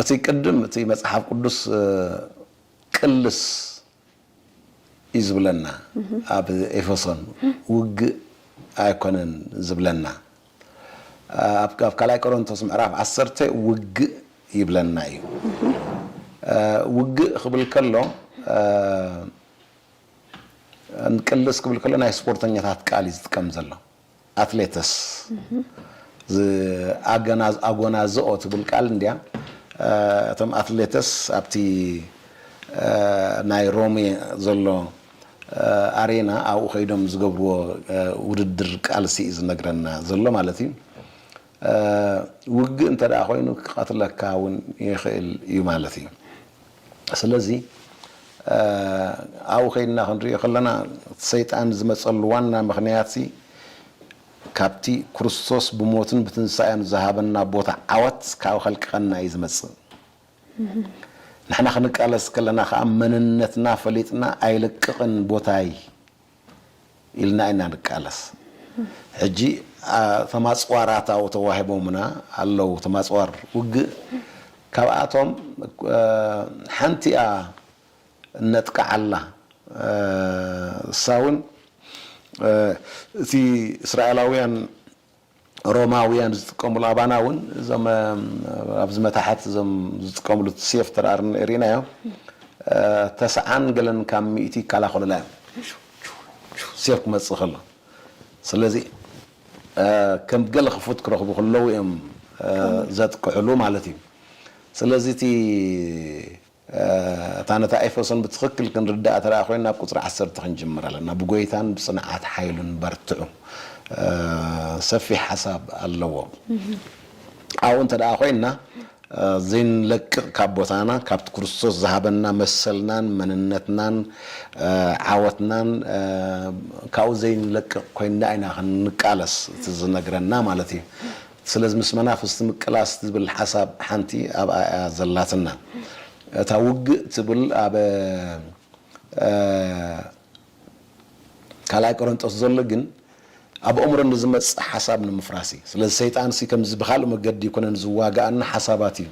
እቲ ቅድም እቲ መጽሓፍ ቅዱስ ቅልስ እዩ ዝብለና ኣብ ኤፌሶን ውግእ ኣይኮነን ዝብለና ኣብ ካልኣይ ቆሮንቶስ ምዕራፍ ዓሰርተ ውግእ ይብለና እዩ ውግእ ክብል ከሎ ቅልስ ክብል ከሎ ናይ ስፖርተኛታት ቃል እዩ ዝጥቀም ዘሎ ኣትሌትስ ኣጎናዝኦ ትብል ቃል እንድያ እቶም ኣትሌትስ ኣብቲ ናይ ሮሜ ዘሎ ኣሬና ኣብኡ ከይዶም ዝገብርዎ ውድድር ቃልሲ እዩ ዝነግረና ዘሎ ማለት እዩ። ውግእ እንተድኣ ኮይኑ ክቐትለካ እውን ይኽእል እዩ ማለት እዩ። ስለዚ ኣብኡ ከይድና ክንርእዮ ከለና እቲ ሰይጣን ዝመጸሉ ዋና ምኽንያትሲ ካብቲ ክርስቶስ ብሞቱን ብትንሳኤኡን ዝሃበና ቦታ ዓወት ካብ ከልቅቐና እዩ ዝመጽእ። ንሕና ክንቃለስ ከለና ከኣ መንነትና ፈሊጥና ኣይልቅቕን ቦታይ፣ ኢልና ኢና ንቃለስ ሕጂ እቶም ኣጽዋራት ኣብኡ ተዋሂቦምና ኣለዉ እቶም ኣጽዋር ውግእ ካብኣቶም ሓንቲ'ያ እነጥቅዓላ እሳ ውን እቲ እስራኤላውያን ሮማውያን ዝጥቀምሉ ኣባና እውን እዞም ኣብዚ መታሕት እዞም ዝጥቀምሉ ሴፍ ተራ ሪእናዮ ተስዓን ገለን ካብ ሚእቲ ይከላኸሉላ እዮም ሴፍ ክመፅእ ከሎ ስለዚ ከም ገለ ክፉት ክረኽቡ ከለዉ እዮም ዘጥቅዕሉ ማለት እዩ ስለዚ እቲ እታ ነታ ኤፌሶን ብትኽክል ክንርድኣ ተደኣ ኮይና ኣብ ቁጽሪ ዓሰርተ ክንጅምር ኣለና፣ ብጎይታን ብጽንዓት ሓይሉን በርትዑ። ሰፊሕ ሓሳብ ኣለዎ። ኣብኡ እንተደኣ ኮይና ዘይንለቅቕ ካብ ቦታና ካብቲ ክርስቶስ ዝሃበና መሰልናን መንነትናን ዓወትናን ካብኡ ዘይንለቅቕ ኮይንና ኢና ክንቃለስ እቲ ዝነግረና ማለት እዩ። ስለዚ ምስ መናፍስቲ ምቅላስ ትብል ሓሳብ ሓንቲ ኣብኣ እያ ዘላትና። እታ ውግእ ትብል ኣብ ካልኣይ ቆረንጦስ ዘሎ ግን ኣብ ኣእምሮ ንዝመጽእ ሓሳብ ንምፍራስ እዩ። ስለዚ ሰይጣንሲ ከምዚ ብካልእ መገዲ ኣይኮነን ዝዋግኣና ሓሳባት እዩ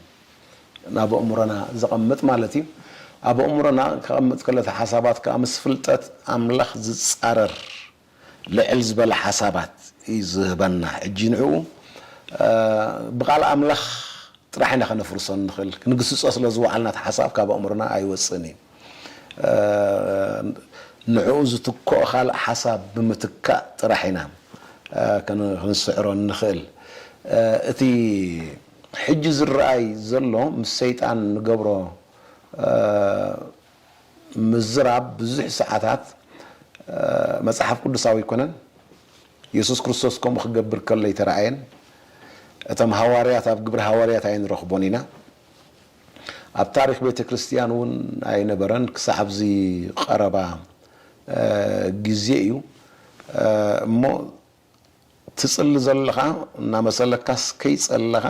ናብ ኣእምሮና ዘቐምጥ ማለት እዩ። ኣብ ኣእምሮና ከቐምጥ ከሎ እቲ ሓሳባት ከኣ ምስ ፍልጠት ኣምላኽ ዝጻረር ልዕል ዝበለ ሓሳባት እዩ ዝህበና ሕጂ ንዕኡ ብቃል ኣምላኽ ጥራሕ ኢና ከነፍርሶ እንኽእል ክንግስጾ ስለ ዝወዓልና እቲ ሓሳብ ካብ ኣእምሮና ኣይወጽእን እዩ ንዕኡ ዝትክኦ ካልእ ሓሳብ ብምትካእ ጥራሕ ኢና ክንስዕሮ እንኽእል እቲ ሕጂ ዝረኣይ ዘሎ ምስ ሰይጣን ንገብሮ ምዝራብ ብዙሕ ሰዓታት መጽሓፍ ቅዱሳዊ ኣይኰነን። የሱስ ክርስቶስ ከምኡ ኺገብር ከሎ ኣይተራእየን። እቶም ሃዋርያት ኣብ ግብሪ ሃዋርያት ኣይንረኽቦን ኢና። ኣብ ታሪኽ ቤተ ክርስትያን እውን ኣይነበረን ክሳዕ ኣብዚ ቐረባ ግዜ እዩ እሞ ትጽሊ ዘለኻ እናመሰለካስ ከይጸለኻ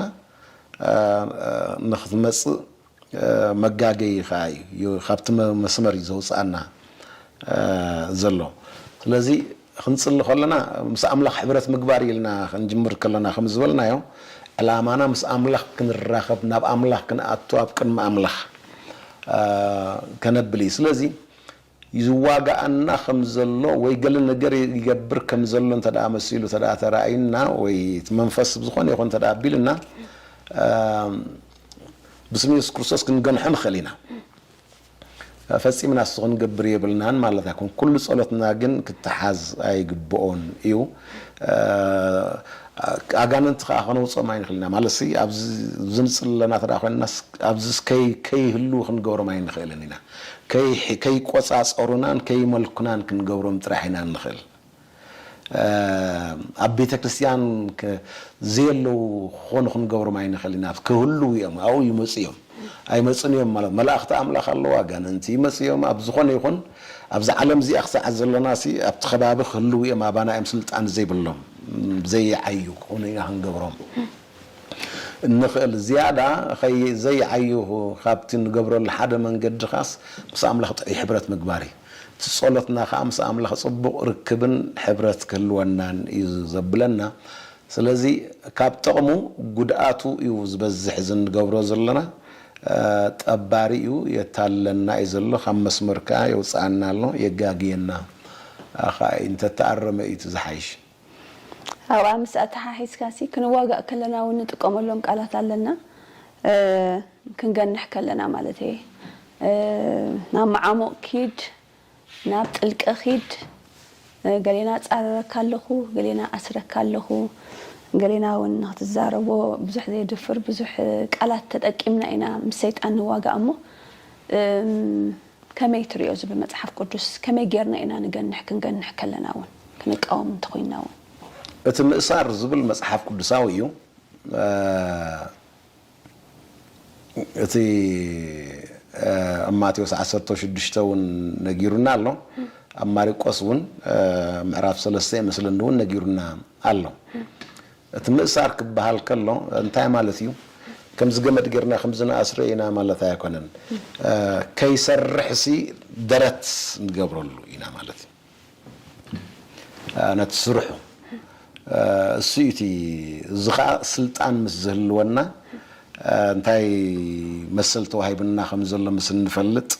ንኽትመጽእ መጋገዪኻ እዩ ካብቲ መስመር እዩ ዘውጽኣና ዘሎ ስለዚ ክንጽሊ ከለና ምስ ኣምላኽ ሕብረት ምግባር ኢልና ክንጅምር ከለና ከም ዝበልናዮ ዕላማና ምስ ኣምላኽ ክንራኸብ ናብ ኣምላኽ ክንኣቱ ኣብ ቅድሚ ኣምላኽ ከነብል እዩ ስለዚ ይዋጋኣና ከም ዘሎ ወይ ገለ ነገር ይገብር ከም ዘሎ እንተ ደኣ መሲሉ እንተ ደኣ ተራእዩና ወይ እቲ መንፈስ ብዝኾነ ይኹን እንተ ደኣ ኣቢሉና ብስም የሱስ ክርስቶስ ክንገንሖ ንኽእል ኢና። ፈጺምና እሱ ክንገብር የብልናን ማለት ኣይኮን። ኩሉ ጸሎትና ግን ክተሓዝ ኣይግብኦን እዩ። ኣጋንንቲ ከኣ ከነውጽኦም ኣይንኽእል ኢና ማለትሲ ኣብዚ ንጽሊ ኣለና እንተ ደኣ ኮይንናስ ኣብዚስ ከይ ከይህልዉ ክንገብሮም ኣይንኽእልን ኢና። ከይቆጻጸሩናን ከይመልኩናን ክንገብሮም ጥራሕ ኢና እንኽእል። ኣብ ቤተ ክርስትያን ዘየለዉ ክኾኑ ክንገብሮም ኣይንኽእልን ኢና። ክህልዉ እዮም፣ ኣብኡ ይመጹ እዮም። ኣይመጹን እዮም ማለት መላእኽቲ ኣምላኽ ኣለዉ፣ ኣጋንንቲ ይመጹ እዮም፣ ኣብ ዝኾነ ይኹን ኣብዛ ዓለም እዚኣ ክሳዕ ዘሎናሲ ኣብቲ ከባቢ ክህልዉ እዮም፣ ኣባና እዮም ስልጣን ዘይብሎም፣ ዘይዓዩ ክኾኑ ኢና ክንገብሮም። እንኽእል ዝያዳ ከይዘይዓዩ ካብቲ ንገብረሉ ሓደ መንገዲ ኻስ ምስ ኣምላኽ ጥዑይ ሕብረት ምግባር እዩ። እቲ ጸሎትና ኸኣ ምስ ኣምላኽ ጽቡቕ ርክብን ሕብረት ክህልወናን እዩ ዘብለና። ስለዚ ካብ ጠቕሙ ጉድኣቱ እዩ ዝበዝሕ እዚ እንገብሮ ዘሎና ጠባሪ እዩ የታልለና እዩ ዘሎ ካብ መስመር ከኣ የውጽኣና ኣሎ የጋግየና ኸኣ እዩ እንተተኣረመ እዩ እቲ ዝሓይሽ። ኣብኣ ምስ ኣተሓሒዝካሲ ክንዋጋእ ከለና እውን ንጥቀመሎም ቃላት ኣለና ክንገንሕ ከለና ማለት እየ ናብ መዓሙቕ ኪድ ናብ ጥልቂ ኪድ ገሌና ኣጻርረካ ኣለኹ ገሌና ኣስረካ ኣለኹ ገሌና እውን ንክትዛረቦ ብዙሕ ዘየድፍር ብዙሕ ቃላት ተጠቂምና ኢና ምስ ሰይጣን ንዋጋእ እሞ ከመይ ትርእዮ እዚ ብመጽሓፍ ቅዱስ ከመይ ጌርና ኢና ንገንሕ ክንገንሕ ከለና ውን ክንቃወም እንተ ኾይንና ውን። እቲ ምእሳር ዝብል መጽሓፍ ቅዱሳዊ እዩ እቲ ኣብ ማቴዎስ ዓሰርተ ሽዱሽተ ውን ነጊሩና ኣሎ ኣብ ማሪቆስ ውን ምዕራፍ ሰለስተ ይመስለኒ ውን ነጊሩና ኣሎ እቲ ምእሳር ክበሃል ከሎ እንታይ ማለት እዩ? ከምዚ ገመድ ጌርና ከምዚ ንኣስሮ ኢና ማለት ኣይኮነን። ከይሰርሕሲ ደረት ንገብረሉ ኢና ማለት እዩ። ነቲ ስርሑ እሱ እዩ እቲ እዚ ከኣ ስልጣን ምስ ዝህልወና እንታይ መሰል ተዋሂቡና ከም ዘሎ ምስ እንፈልጥ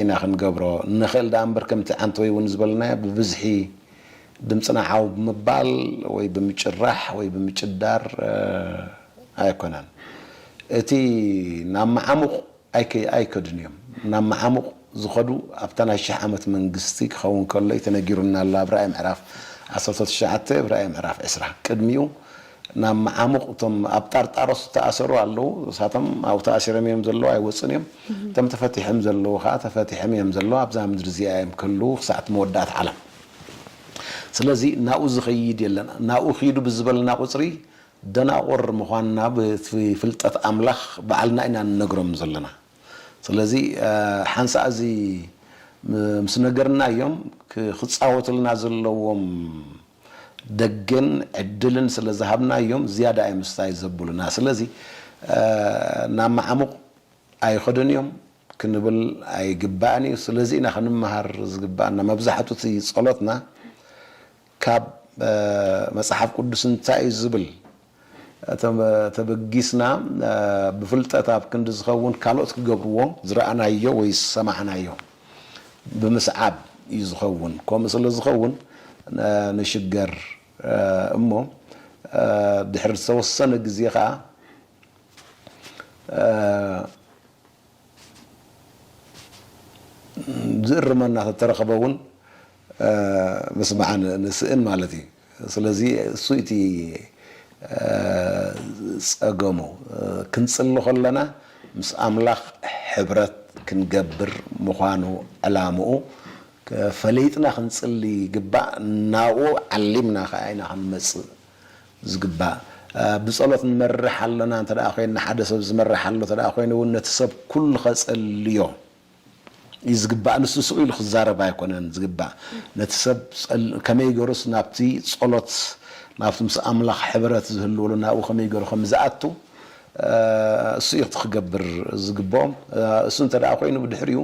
ኢና ክንገብሮ ንኽእል ደኣ እምበር ከምቲ ዓንተወይ እውን ዝበልናዮ ብብዝሒ ድምጽና ዓው ብምባል ወይ ብምጭራሕ ወይ ብምጭዳር ኣይኮነን። እቲ ናብ መዓሙቕ ኣይከዱን እዮም። ናብ መዓሙቕ ዝኸዱ ኣብታ ናይ ሽሕ ዓመት መንግስቲ ክኸውን ከሎ እዩ ተነጊሩና ኣሎ ኣብ ራእይ ምዕራፍ ዓሰርተ ትሽዓተ ብ ራእይ ምዕራፍ ዕስራ። ቅድሚኡ ናብ መዓሙቕ እቶም ኣብ ጣርጣሮስ ዝተኣሰሩ ኣለዉ ንሳቶም ኣብኡ ተኣሲሮም እዮም ዘለዉ ኣይወጹን እዮም። እቶም ተፈቲሖም ዘለዉ ከኣ ተፈቲሖም እዮም ዘለዉ ኣብዛ ምድሪ እዚኣ እዮም ክህልዉ ክሳዕ እቲ መወዳእታ ዓለም። ስለዚ ናብኡ ዝኸይድ የለን። ናብኡ ኺዱ ብዝበልና ቍጽሪ፣ ደናቑር ምዃንና ብቲ ፍልጠት ኣምላኽ ባዕልና ኢና እንነግሮም ዘለና። ስለዚ፣ ሓንሳእ እዚ ምስ ነገርናዮም፣ ኪጻወቱልና ዘለዎም ደገን ዕድልን ስለ ዝሃብናዮም፣ ዝያዳ እዮም ስታይ ዘብሉና። ስለዚ፣ ናብ መዓሙቝ ኣይኸዱን እዮም ክንብል ኣይግባእን እዩ ስለዚ ኢና ክንመሃር ዝግባኣና መብዛሕቱ እቲ ጸሎትና ካብ መጽሓፍ ቅዱስ እንታይ እዩ ዝብል ተበጊስና ብፍልጠት ኣብ ክንዲ ዝኸውን ካልኦት ክገብርዎ ዝረኣናዮ ወይ ዝሰማዕናዮ ብምስዓብ እዩ ዝኸውን ከምኡ ስለ ዝኸውን ንሽገር እሞ ድሕሪ ዝተወሰነ ግዜ ከኣ ዝእርመና ተተረኸበ እውን ምስማዕ ንስእን ማለት እዩ። ስለዚ እሱ እቲ ጸገሙ ክንጽሊ ከለና ምስ ኣምላኽ ሕብረት ክንገብር ምዃኑ ዕላምኡ ፈሊጥና ክንጽሊ ይግባእ ናብኡ ዓሊምና ከኣ ኢና ክንመጽእ ዝግባእ። ብጸሎት ንመርሕ ኣሎና እንተ ደኣ ዄንና፣ ሓደ ሰብ ዝመርሕ ኣሎ እንተ ደኣ ዀይኑ እውን፣ ነቲ ሰብ ኵሉ ኼጸልዮ እዩ ዝግባእ። ንሱ ስቕ ኢሉ ኺዛረብ ኣይኰነን ዝግባእ። ነቲ ሰብ ጸል ከመይ ገይሩስ ናብቲ ጸሎት፣ ናብቲ ምስ ኣምላኽ ሕብረት ዚህልወሉ ናብኡ ኸመይ ገይሩ ኸም ዚኣቱ፣ እሱ እዩ እቲ ኺገብር ዚግብኦ። እሱ እንተ ደኣ ዀይኑ፣ ብድሕሪኡ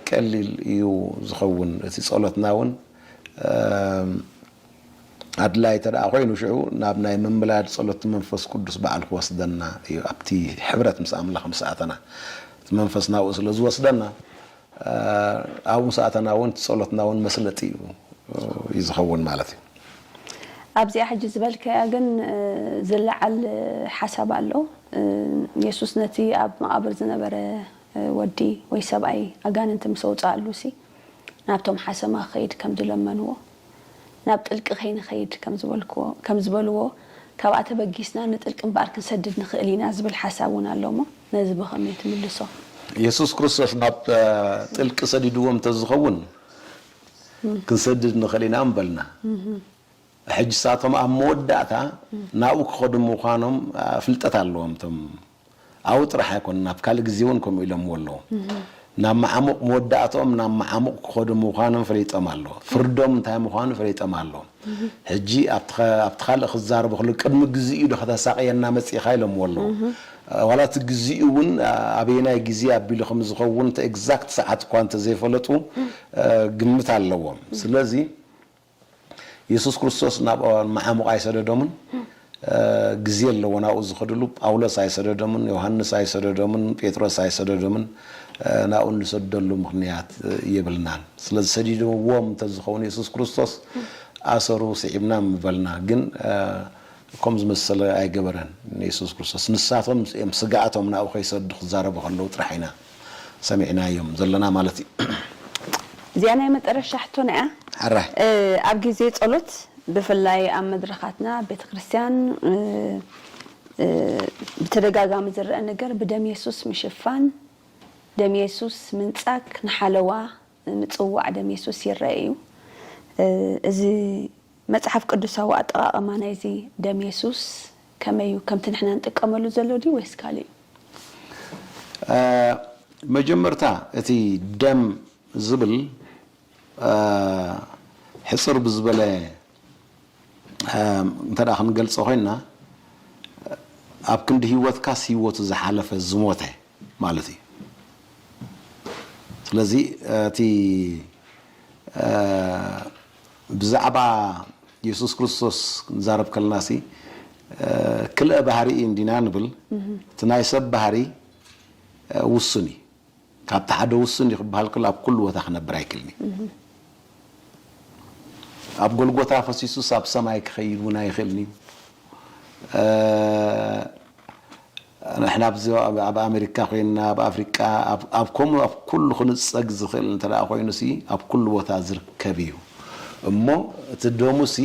ቀሊል እዩ ዚኸውን፣ እቲ ጸሎትና እውን። ኣድላይ ተደኣ ኮይኑ ሽዑ ናብ ናይ ምምላድ ጸሎት መንፈስ ቅዱስ ባዕሉ ክወስደና እዩ ኣብቲ ሕብረት ምስ ኣምላኽ ምስ ኣተና እቲ መንፈስ ናብኡ ስለ ዝወስደና ኣብኡ ምስ ኣተና ውን እቲ ጸሎትና ውን መስለጢ እዩ እዩ ዝኸውን ማለት እዩ። ኣብዚኣ ሕጂ ዝበልካያ ግን ዝለዓል ሓሳብ ኣሎ የሱስ ነቲ ኣብ መቓብር ዝነበረ ወዲ ወይ ሰብኣይ ኣጋንንቲ ምስ ኣውጽኣሉሲ ናብቶም ሓሰማ ክኸይድ ከምዚ ለመንዎ። ናብ ጥልቂ ከይንኸይድ ከም ዝበልክዎ ከም ዝበልዎ ካብኣ ተበጊስና ንጥልቂ እምበኣር ክንሰድድ ንኽእል ኢና ዝብል ሓሳብ እውን ኣሎ እሞ ነዚ ብኸመይ ትምልሶ? የሱስ ክርስቶስ ናብ ጥልቂ ሰዲድዎም እንተዝኸውን ክንሰድድ ንኽእል ኢና ምበልና። ሕጂ ንሳቶም ኣብ መወዳእታ ናብኡ ክኸዱ ምዃኖም ፍልጠት ኣለዎም እቶም ኣብኡ ጥራሕ ኣይኮነን ኣብ ካልእ ግዜ እውን ከምኡ ኢሎምዎ ኣለዉ። ናብ መዓሙቕ መወዳእትኦም ናብ መዓሙቕ ክኸዱ ምዃኖም ፈሊጦም ኣለዉ። ፍርዶም እንታይ ምዃኑ ፈሊጦም ኣለዉ። ሕጂ ኣብቲ ኣብቲ ካልእ ክዛረቡ ከለዉ ቅድሚ ግዜኡዶ ከተሳቕየና መጺእካ ኢሎምዎ ኣለዉ። ዋላ እቲ ግዜኡ እውን ኣበየናይ ግዜ ኣቢሉ ከም ዝኸውን እቲ ኤግዛክት ሰዓት እኳ እንተዘይፈለጡ ግምት ኣለዎም። ስለዚ። የሱስ ክርስቶስ ናብ መዓሙቕ ኣይሰደዶምን፣ ግዜ ኣለዎ ናብኡ ዝኸድሉ። ጳውሎስ ኣይሰደዶምን፣ ዮሃንስ ኣይሰደዶምን፣ ጴጥሮስ ኣይሰደዶምን፣ ናብኡ እንሰደሉ ምኽንያት የብልናን። ስለዚ ሰዲድዎም እንተዝኸውን የሱስ ክርስቶስ ኣሰሩ ስዒብና ምበልና። ግን ከምኡ ዝመሰለ ኣይገበረን የሱስ ክርስቶስ። ንሳቶም እዮም ስግኣቶም ናብኡ ከይሰዱ ክዛረቡ ከለዉ ጥራሕ ኢና ሰሚዕናዮም ዘለና ማለት እዩ። እዚኣ ናይ መጠረሻ ሕቶና እያ። ሕራይ። ኣብ ግዜ ጸሎት ብፍላይ ኣብ መድረኻትና ቤተክርስትያን ብተደጋጋሚ ዝረኣ ነገር ብደም የሱስ ምሽፋን፣ ደም የሱስ ምንጻግ ንሓለዋ ምጽዋዕ ደም የሱስ ይርኣ ኢዩ። እዚ መጽሓፍ ቅዱሳዊ ኣጠቓቕማ ናይዚ ደም የሱስ ከመይ ኢዩ? ከምቲ ንሕና ንጥቀመሉ ዘሎ ድዩ ወይስ ካልእ ኢዩ? መጀመርታ እቲ ደም ዝብል ሕጽር ብዝበለ እንተ ክንገልጾ ኮይና ኣብ ክንዲ ሂወትካስ ሂወቱ ዝሓለፈ ዝሞተ ማለት እዩ። ስለዚ እቲ ብዛዕባ የሱስ ክርስቶስ ክንዛረብ ከለናሲ ክልኤ ባህሪ እዩ እንዲና ንብል። እቲ ናይ ሰብ ባህሪ ውሱን እዩ። ካብቲ ሓደ ውሱን እዩ ክበሃል ከሎ ኣብ ኩሉ ቦታ ክነብር ኣይክልን እዩ። ኣብ ጎልጎታ ፈሲሱስ ኣብ ሰማይ ክኸይድ እውን ኣይኽእልን እዩ። ንሕና ኣብዚ ኣብ ኣመሪካ ኮይንና ኣብ ኣፍሪቃ ኣብ ከምኡ ኣብ ኩሉ ክንጸግ ዝኽእል እንተ ኮይኑሲ ኣብ ኩሉ ቦታ ዝርከብ እዩ እሞ እቲ ደሙሲ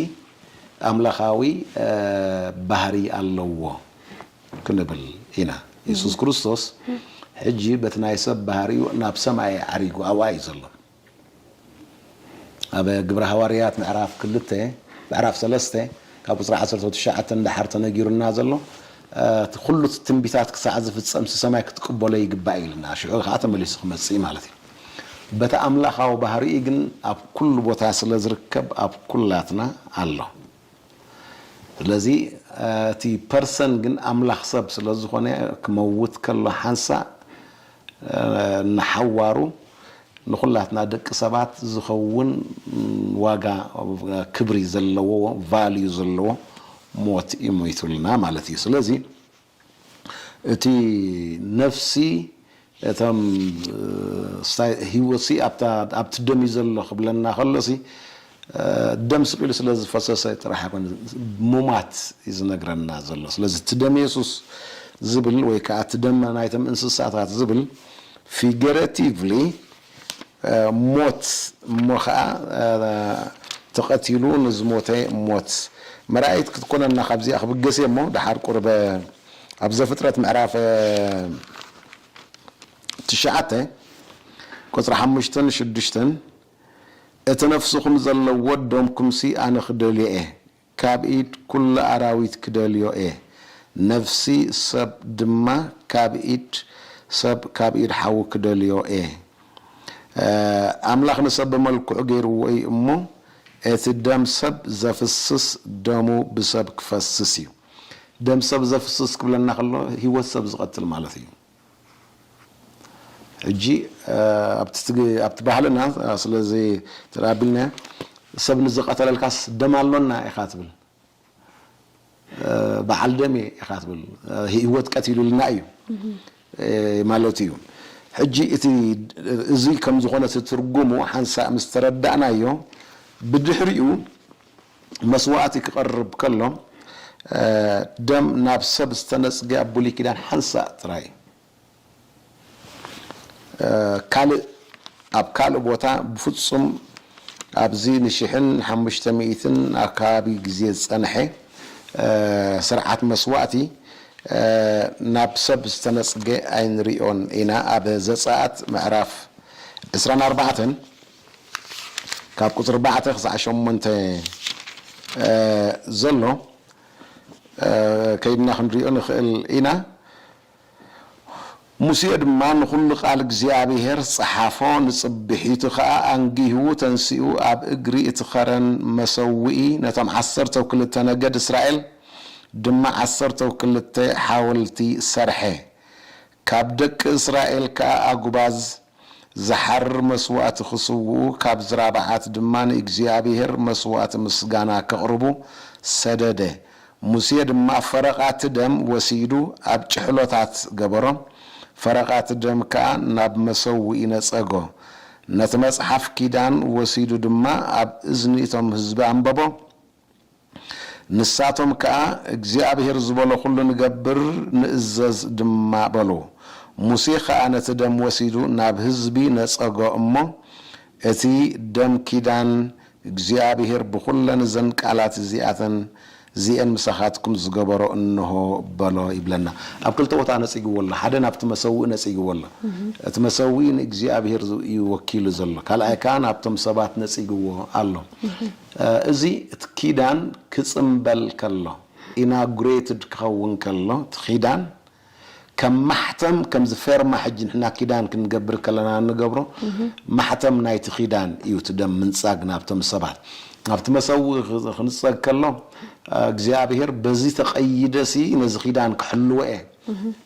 ኣምላኻዊ ባህሪ ኣለዎ ክንብል ኢና። የሱስ ክርስቶስ ሕጂ በቲ ናይ ሰብ ባህሪኡ ናብ ሰማይ ዓሪጉ ኣብኣ እዩ ዘሎ። ኣብ ግብረ ሃዋርያት ምዕራፍ ክልተ ምዕራፍ ሰለስተ ካብ ቁጽሪ ዓሰርተው ትሽዓተ ንደሓር ተነጊሩና ዘሎ እቲ ኩሉ እቲ ትንቢታት ክሳዕ ዝፍጸም ስሰማይ ክትቅበሎ ይግባእ እዩ ኢልና ሽዑ ከኣ ተመሊሱ ክመጽእ እዩ ማለት እዩ በቲ ኣምላኻዊ ባህሪኡ ግን ኣብ ኩሉ ቦታ ስለ ዝርከብ ኣብ ኩላትና ኣሎ። ስለዚ እቲ ፐርሰን ግን ኣምላኽ ሰብ ስለ ዝኾነ ክመውት ከሎ ሓንሳእ ንሓዋሩ ንኹላትና ደቂ ሰባት ዝኸውን ዋጋ ክብሪ ዘለዎ ቫልዩ ዘለዎ ሞት እዩ ሞይቱልና ማለት እዩ። ስለዚ እቲ ነፍሲ እቶም ህይወትሲ ኣብቲ ደም እዩ ዘሎ ክብለና ከሎሲ ደም ስቅ ኢሉ ስለ ዝፈሰሰ ጥራሕ ኣይኮነ ሙማት እዩ ዝነግረና ዘሎ ስለዚ እቲ ደም የሱስ ዝብል ወይ ከዓ እቲ ደም ናይቶም እንስሳታት ዝብል ፊገረቲቭሊ ሞት እሞ ኸኣ ተቐቲሉ ንዝሞተ ሞት መርኣይት ክትኮነና ካብዚኣ ክብገስ እየ እሞ ደሓር ቁርበ ኣብ ዘፍጥረት ምዕራፍ ትሽዓተ ቁጽሪ ሓሙሽተን ሽዱሽተን እቲ ነፍስኹም ዘለዎ ደምኩምሲ ኣነ ክደልዮ እየ ካብ ኢድ ኩሉ ኣራዊት ክደልዮ እየ ነፍሲ ሰብ ድማ ካብ ኢድ ሰብ ካብ ኢድ ሓዉ ክደልዮ እየ ኣምላኽ ንሰብ ብመልክዑ ገይርዎ እዩ እሞ እቲ ደም ሰብ ዘፍስስ ደሙ ብሰብ ክፈስስ እዩ ደም ሰብ ዘፍስስ ክብለና ከሎ ሂወት ሰብ ዝቀትል ማለት እዩ ሕጂ ኣብቲ ባህልና ስለ ዘይተኣቢልናዮ ሰብ ንዝቐተለልካስ ደም ኣሎና ኢኻ ትብል፣ በዓል ደም እየ ኢኻ ትብል፣ ህይወት ቀቲሉልና እዩ ማለት እዩ። ሕጂ እቲ እዚ ከም ዝኾነ እቲ ትርጉሙ ሓንሳእ ምስ ተረዳእናዮ ብድሕሪኡ፣ መስዋእቲ ክቐርብ ከሎ ደም ናብ ሰብ ዝተነጽገ ኣብ ብሉይ ኪዳን ሓንሳእ ጥራይ ካልእ ኣብ ካልእ ቦታ ብፍጹም ኣብዚ ንሽሕን ሓሙሽተ ሚእትን ኣከባቢ ግዜ ዝጸንሐ ስርዓት መስዋእቲ ናብ ሰብ ዝተነጽገ ኣይንሪኦን ኢና ኣብ ዘጸኣት ምዕራፍ ዕስራን ኣርባዕተን ካብ ቁጽሪ ኣርባዕተ ክሳዕ ሸሞንተ ዘሎ ከይድና ክንሪኦ ንኽእል ኢና። ሙሴ ድማ ንኹሉ ቃል እግዚኣብሄር ጸሓፎ፣ ንጽብሒቱ ኸኣ ኣንጊሁ ተንሲኡ ኣብ እግሪ እቲ ኸረን መሰውኢ ነቶም ዓሰርተው ክልተ ነገድ እስራኤል ድማ ዓሰርተው ክልተ ሓወልቲ ሰርሐ። ካብ ደቂ እስራኤል ከኣ ኣጕባዝ ዚሓርር መስዋእቲ ኺስውኡ፣ ካብ ዝራብዓት ድማ ንእግዚኣብሄር መስዋእቲ ምስጋና ኬቕርቡ ሰደደ። ሙሴ ድማ ፈረቓ እቲ ደም ወሲዱ ኣብ ጭሕሎታት ገበሮ፣ ፈረቓ እቲ ደም ከኣ ናብ መሰውኢ ነጸጎ። ነቲ መጽሓፍ ኪዳን ወሲዱ ድማ ኣብ እዝኒ እቶም ህዝቢ ኣንበቦ። ንሳቶም ከኣ፣ እግዚኣብሄር ዝበሎ ዅሉ ንገብር፣ ንእዘዝ ድማ በሉ። ሙሴ ኸኣ ነቲ ደም ወሲዱ ናብ ህዝቢ ነጸጎ እሞ፣ እቲ ደም ኪዳን እግዚኣብሄር ብዅለን እዘን ቃላት እዚኣተን እዚኤን ምሳኻትኩም ዝገበሮ እንሆ በሎ ይብለና። ኣብ ክልተ ቦታ ነጺግዎ ኣሎ፣ ሓደ ናብቲ መሰውኢ ነጺግዎ ኣሎ። እቲ መሰውኢ ንእግዚኣብሄር እዩ ወኪሉ ዘሎ፣ ካልኣይ ከኣ ናብቶም ሰባት ነጺግዎ ኣሎ። እዚ እቲ ኪዳን ክጽምበል ከሎ፣ Inaugurated፣ ክኸውን ከሎ፣ እቲ ኪዳን ከም ማሕተም ከምዚ ፌርማ ሕጂ ንሕና ኪዳን ክንገብር ከለና እንገብሮ ማሕተም ናይቲ ኪዳን እዩ እቲ ደም ምንጻግ ናብቶም ሰባት ናብቲ መሰውኢ ክንጸግ ከሎ እግዚኣብሄር በዚ ተቐይደሲ ነዚ ኪዳን ክሕልዎ እየ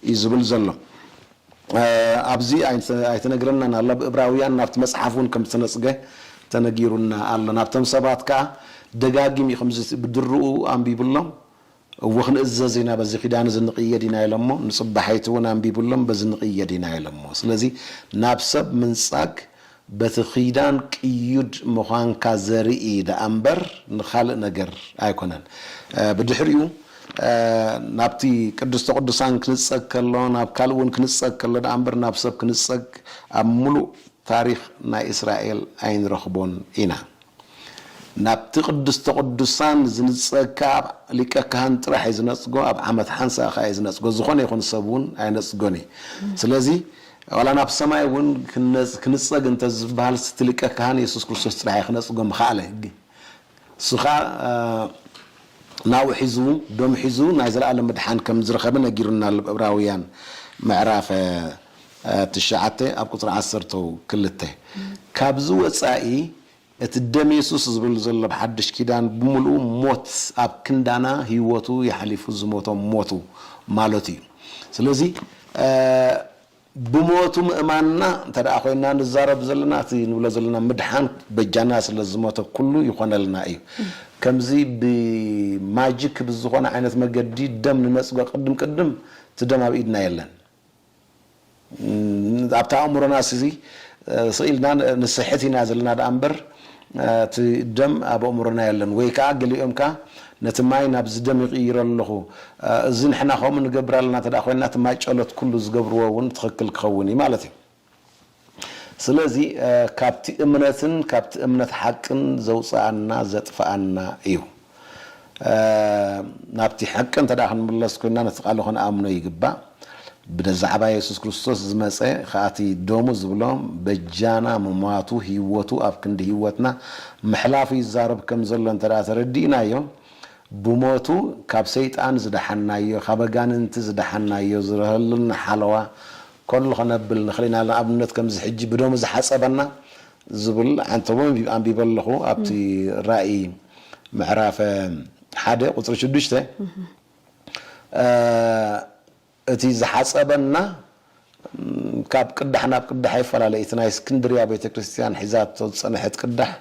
እዩ ዝብል ዘሎ። ኣብዚ ኣይተነግረናን ኣሎ። ኣብ እብራውያን ናብቲ መጽሓፍ እውን ከም ዝተነጽገ ተነጊሩና ኣሎ። ናብቶም ሰባት ከኣ ደጋጊም እዩ ከምዚ ብድርኡ ኣንቢቡሎም፣ እወ ክንእዘዝ ኢና፣ በዚ ኪዳን እዚ ንቕየድ ኢና ኢሎሞ፣ ንጽባሒቱ እውን ኣንቢቡሎም በዚ ንቕየድ ኢና ኢሎሞ። ስለዚ ናብ ሰብ ምንጻግ በቲ ኺዳን ቅዩድ ምዃንካ ዘርኢ ደኣ እምበር ንኻልእ ነገር ኣይኰነን። ብድሕሪኡ ናብቲ ቅድስተ ቅዱሳን ክንጸግ ከሎ፣ ናብ ካልእ እውን ክንጸግ ከሎ ደኣ እምበር ናብ ሰብ ክንጸግ ኣብ ምሉእ ታሪኽ ናይ እስራኤል ኣይንረኽቦን ኢና። ናብቲ ቅድስተ ቅዱሳን ዝንጸግ ከኣ ኣብ ሊቀ ካህን ጥራሕ እዩ ዝነጽጎ፣ ኣብ ዓመት ሓንሳእ ከኣ እዩ ዝነጽጎ፣ ዝኾነ ይኹን ሰብ እውን ኣይነጽጎን እዩ። ስለዚ ዋላ ናብ ሰማይ እውን ክንጸግ እንተ ዝበሃልስ እቲ ሊቀ ካህን የሱስ ክርስቶስ ጥራሕ እዩ ክነጽጎ ምኸኣለ። ንሱ ከኣ ናብኡ ሒዙ ደሙ ሒዙ ናይ ዘለኣለም ምድሓን ከም ዝረኸበ ነጊሩና ኣሎ፣ ኣብ ዕብራውያን ምዕራፍ። ትሽዓተ ኣብ ቁጽሪ ዓሰርተ ክልተ ካብዚ ወጻኢ እቲ ደም የሱስ ዝብል ዘሎ ኣብ ሓድሽ ኪዳን ብምልኡ ሞት ኣብ ክንዳና ህይወቱ የሕሊፉ ዝሞቶም ሞቱ ማለቱ እዩ ስለዚ ብሞቱ ምእማንና እንተ ኮይና ንዛረብ ዘለና እቲ ንብሎ ዘለና ምድሓን በጃና ስለ ዝሞተ ኩሉ ይኾነልና እዩ ከምዚ ብማጂክ ብዝኾነ ዓይነት መገዲ ደም ንነጽጎ ቅድም ቅድም እቲ ደም ኣብ ኢድና የለን ኣብቲ ኣእምሮናስ እዚ ስቕ ኢልና ንስሕት ኢና ዘለና ደኣ እምበር እቲ ደም ኣብ ኣእምሮና የለን። ወይ ከኣ ገሊኦም ከኣ ነቲ ማይ ናብዚ ደም ይቕይሮ ኣለኹ። እዚ ንሕና ከምኡ ንገብር ኣለና እንተደኣ ኮይንና እቲ ማይ ጨሎት ኩሉ ዝገብርዎ እውን ትኽክል ክኸውን እዩ ማለት እዩ። ስለዚ ካብቲ እምነትን ካብቲ እምነት ሓቅን ዘውጽኣና ዘጥፍኣና እዩ። ናብቲ ሓቂ እንተ ክንምለስ ኮይንና ነቲ ቃሉ ክንኣምኖ ይግባእ። ብዛዕባ የሱስ ክርስቶስ ዝመጸ ከኣ እቲ ደሙ ዝብሎ በጃና ምሟቱ ህይወቱ ኣብ ክንዲ ህይወትና ምሕላፉ ይዛረብ ከም ዘሎ እንተ ተረዲእናዮ ብሞቱ ካብ ሰይጣን ዝደሓንናዮ ካብ ኣጋንንቲ ዝደሓንናዮ ዝረሀሉና ሓለዋ ኮንል ከነብል ንኽል ኢና ንኣብነት ከምዚ ሕጂ ብደሙ ዝሓጸበና ዝብል ሓንቲ እውን ኣንቢበ ኣለኹ ኣብቲ ራኢ ምዕራፈ ሓደ ቁጽሪ ሽዱሽተ እቲ ዝሓጸበና ካብ ቅዳሕ ናብ ቅዳሕ ይፈላለ እቲ ናይ እስክንድርያ ቤተ ክርስትያን ሒዛቶ ዝጸንሐት ቅዳሕ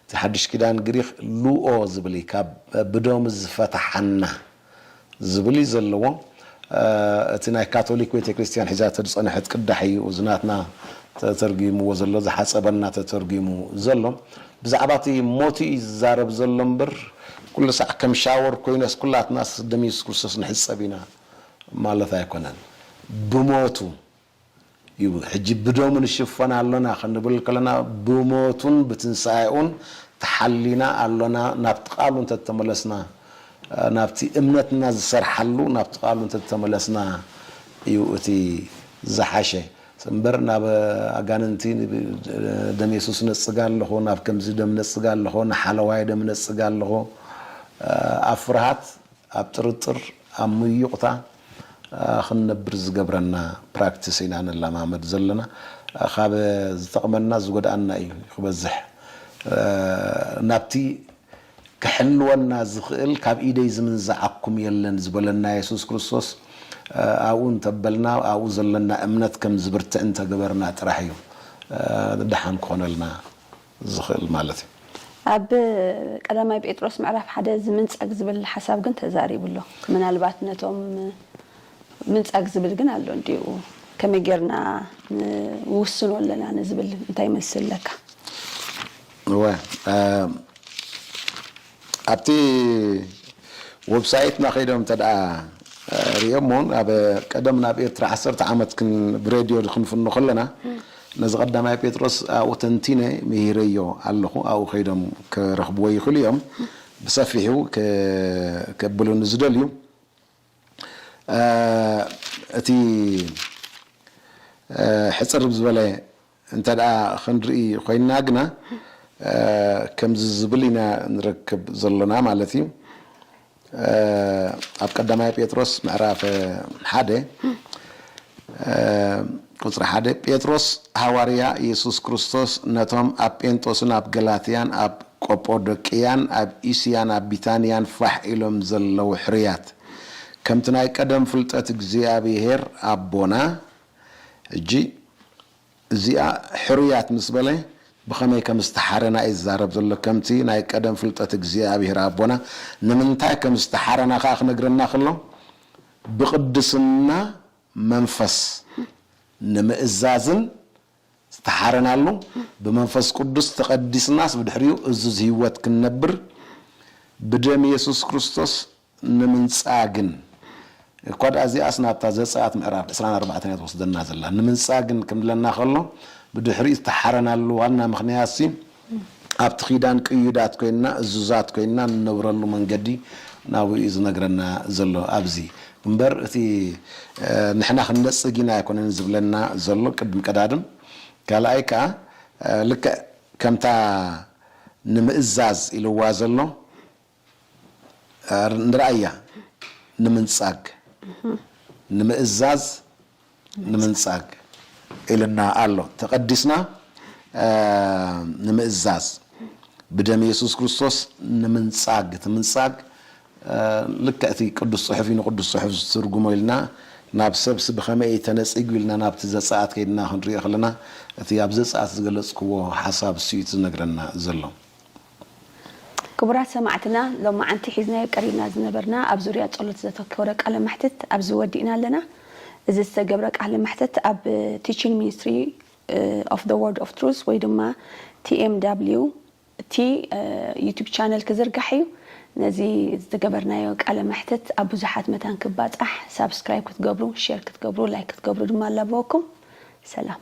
እቲ ሓድሽ ኪዳን ግሪኽ ሉኦ ዝብል እዩ ካብ ብደሙ ዝፈታሓና ዝብል እዩ ዘለዎ እቲ ናይ ካቶሊክ ቤተክርስትያን ሒዛቶ ዝጸነሐት ቅዳሕ እዩ እዚ ናትና ተተርጉምዎ ዘሎ ዝሓጸበና ተተርጉሙ ዘሎ ብዛዕባ እቲ ሞቱ እዩ ዝዛረብ ዘሎ እምበር ኩሉ ሳዕ ከም ሻወር ኮይነስ ኩላትናስ ደም የሱስ ክርስቶስ ንሕጸብ ኢና ማለት ኣይኮነን ብሞቱ ይብሉ። ሕጂ ብደሙ ንሽፈን ኣሎና ክንብል ከለና ብሞቱን ብትንሳኤኡን ተሓሊና ኣሎና ናብቲ ቃሉ እንተ ተመለስና ናብቲ እምነትና ዝሰርሓሉ ናብቲ ቃሉ እንተ ተመለስና እዩ እቲ ዝሓሸ እምበር ናብ ኣጋንንቲ ደም የሱስ ነጽግ ኣለኹ ናብ ከምዚ ደም ነጽግ ኣለኹ ንሓለዋይ ደም ነጽግ ኣለኹ ኣብ ፍርሃት ኣብ ጥርጥር ኣብ ምዩቕታ ክንነብር ዝገብረና ፕራክቲስ ኢና ንለማመድ ዘለና ካብ ዝጠቕመና ዝጎድኣና እዩ ክበዝሕ ናብቲ ክሕልወና ዝኽእል ካብ ኢደይ ዝምንዝዓኩም የለን ዝበለና የሱስ ክርስቶስ ኣብኡ እንተበልና ኣብኡ ዘለና እምነት ከም ዝብርትዕ እንተገበርና ጥራሕ እዩ ደሓን ክኾነልና። ዝኽእል ማለት እዩ። ኣብ ቀዳማይ ጴጥሮስ ምዕራፍ ሓደ ዝምንጻግ ዝብል ሓሳብ ግን ተዛሪቡ ኣሎ። ምናልባት ነቶም ምንጻግ ዝብል ግን ኣሎ እንድዩ ከመይ ጌርና ንውስኖ ኣለና ንዝብል እንታይ መልሲ ኣለካ? እወ ኣብቲ ወብሳይትና ከይዶም እንተድኣ ርእዮሞ ውን ኣብ ቀደም ናብ ኤርትራ ዓሰርተ ዓመት ክን ብሬድዮ ክንፍኖ ከለና ነዚ ቀዳማይ ጴጥሮስ ኣብኡ ተንቲነ ምሂረዮ ኣለኹ ኣብኡ ከይዶም ክረኽብዎ ይኽእሉ እዮም ብሰፊሑ ከብሉኒ ዝደልዩ እቲ ሕጽር ዝበለ እንተ ክንርኢ ኮይንና ግና ከምዚ ዝብል ኢና ንረክብ ዘሎና ማለት እዩ ኣብ ቀዳማይ ጴጥሮስ ምዕራፍ ሓደ ቁፅሪ ሓደ ጴጥሮስ ሃዋርያ ኢየሱስ ክርስቶስ ነቶም ኣብ ጴንጦስን ኣብ ገላትያን ኣብ ቆጶዶቅያን ኣብ እስያን ኣብ ቢታንያን ፋሕ ኢሎም ዘለዉ ሕርያት፣ ከምቲ ናይ ቀደም ፍልጠት እግዚኣብሄር ኣቦና፣ ሕጂ እዚኣ ሕርያት ምስ በለ ብኸመይ ከም ዝተሓረና እዩ ዝዛረብ ዘሎ፣ ከምቲ ናይ ቀደም ፍልጠት እግዚኣብሄር ኣቦና፣ ንምንታይ ከም ዝተሓረና ከኣ ክነግረና ከሎ፣ ብቕድስና መንፈስ ንምእዛዝን ዝተሓረናሉ፣ ብመንፈስ ቅዱስ ተቐዲስናስ ብድሕሪኡ እዙዝ ህይወት ክንነብር ብደም የሱስ ክርስቶስ ንምንጻግን፣ እኳ ድኣ እዚኣስ ናብታ ዘጸኣት ምዕራፍ ዕስራን ኣርባዕተን እያ ትወስደና ዘላ፣ ንምንጻግን ክብለና ከሎ ብድሕሪኡ ዝተሓረናሉ ዋና ምኽንያትሲ፣ ኣብቲ ኪዳን ቅዩዳት ኮይንና እዙዛት ኮይንና ንነብረሉ መንገዲ ናብኡ እዩ ዝነግረና ዘሎ ኣብዚ እምበር እቲ ንሕና ክንነጽግ ኢና ኣይኮነን ዝብለና ዘሎ ቅድም ቀዳድም ካልኣይ ከኣ ልክዕ ከምታ ንምእዛዝ ኢልዋ ዘሎ ንርኣያ ንምንጻግ ንምእዛዝ ንምንጻግ ኢልና ኣሎ ተቐዲስና ንምእዛዝ ብደም የሱስ ክርስቶስ ንምንጻግ እቲ ምንጻግ ልክዕ እቲ ቅዱስ ጽሑፍ እዩ ንቅዱስ ጽሑፍ ዝትርጉሞ ኢልና ናብ ሰብሲ ብኸመይ እዩ ተነጺጉ ኢልና ናብቲ ዘጸኣት ከይድና ክንሪኦ ከለና እቲ ኣብ ዘጸኣት ዝገለጽክዎ ሓሳብ ስዩ ዝነግረና ዘሎ ክቡራት ሰማዕትና ሎማዓንቲ ሒዝናዮ ቀሪብና ዝነበርና ኣብ ዙርያ ጸሎት ዘተኮረ ቃለ መሕትት ኣብዚ ወዲእና ኣለና። እዚ ዝተገብረ ቃለ መሕትት ኣብ Teaching Ministry of the Word of Truth ወይ ድማ TMWT ዩቱብ ቻነል ክዝርጋሕ እዩ። ነዚ ዝገበርናዮ ቃለ መሕትት ኣብ ብዙሓት መታን ክባጻሕ ሳብስክራይብ ክትገብሩ ሼር ክትገብሩ ላይክ ክትገብሩ ድማ ኣላበወኩም። ሰላም።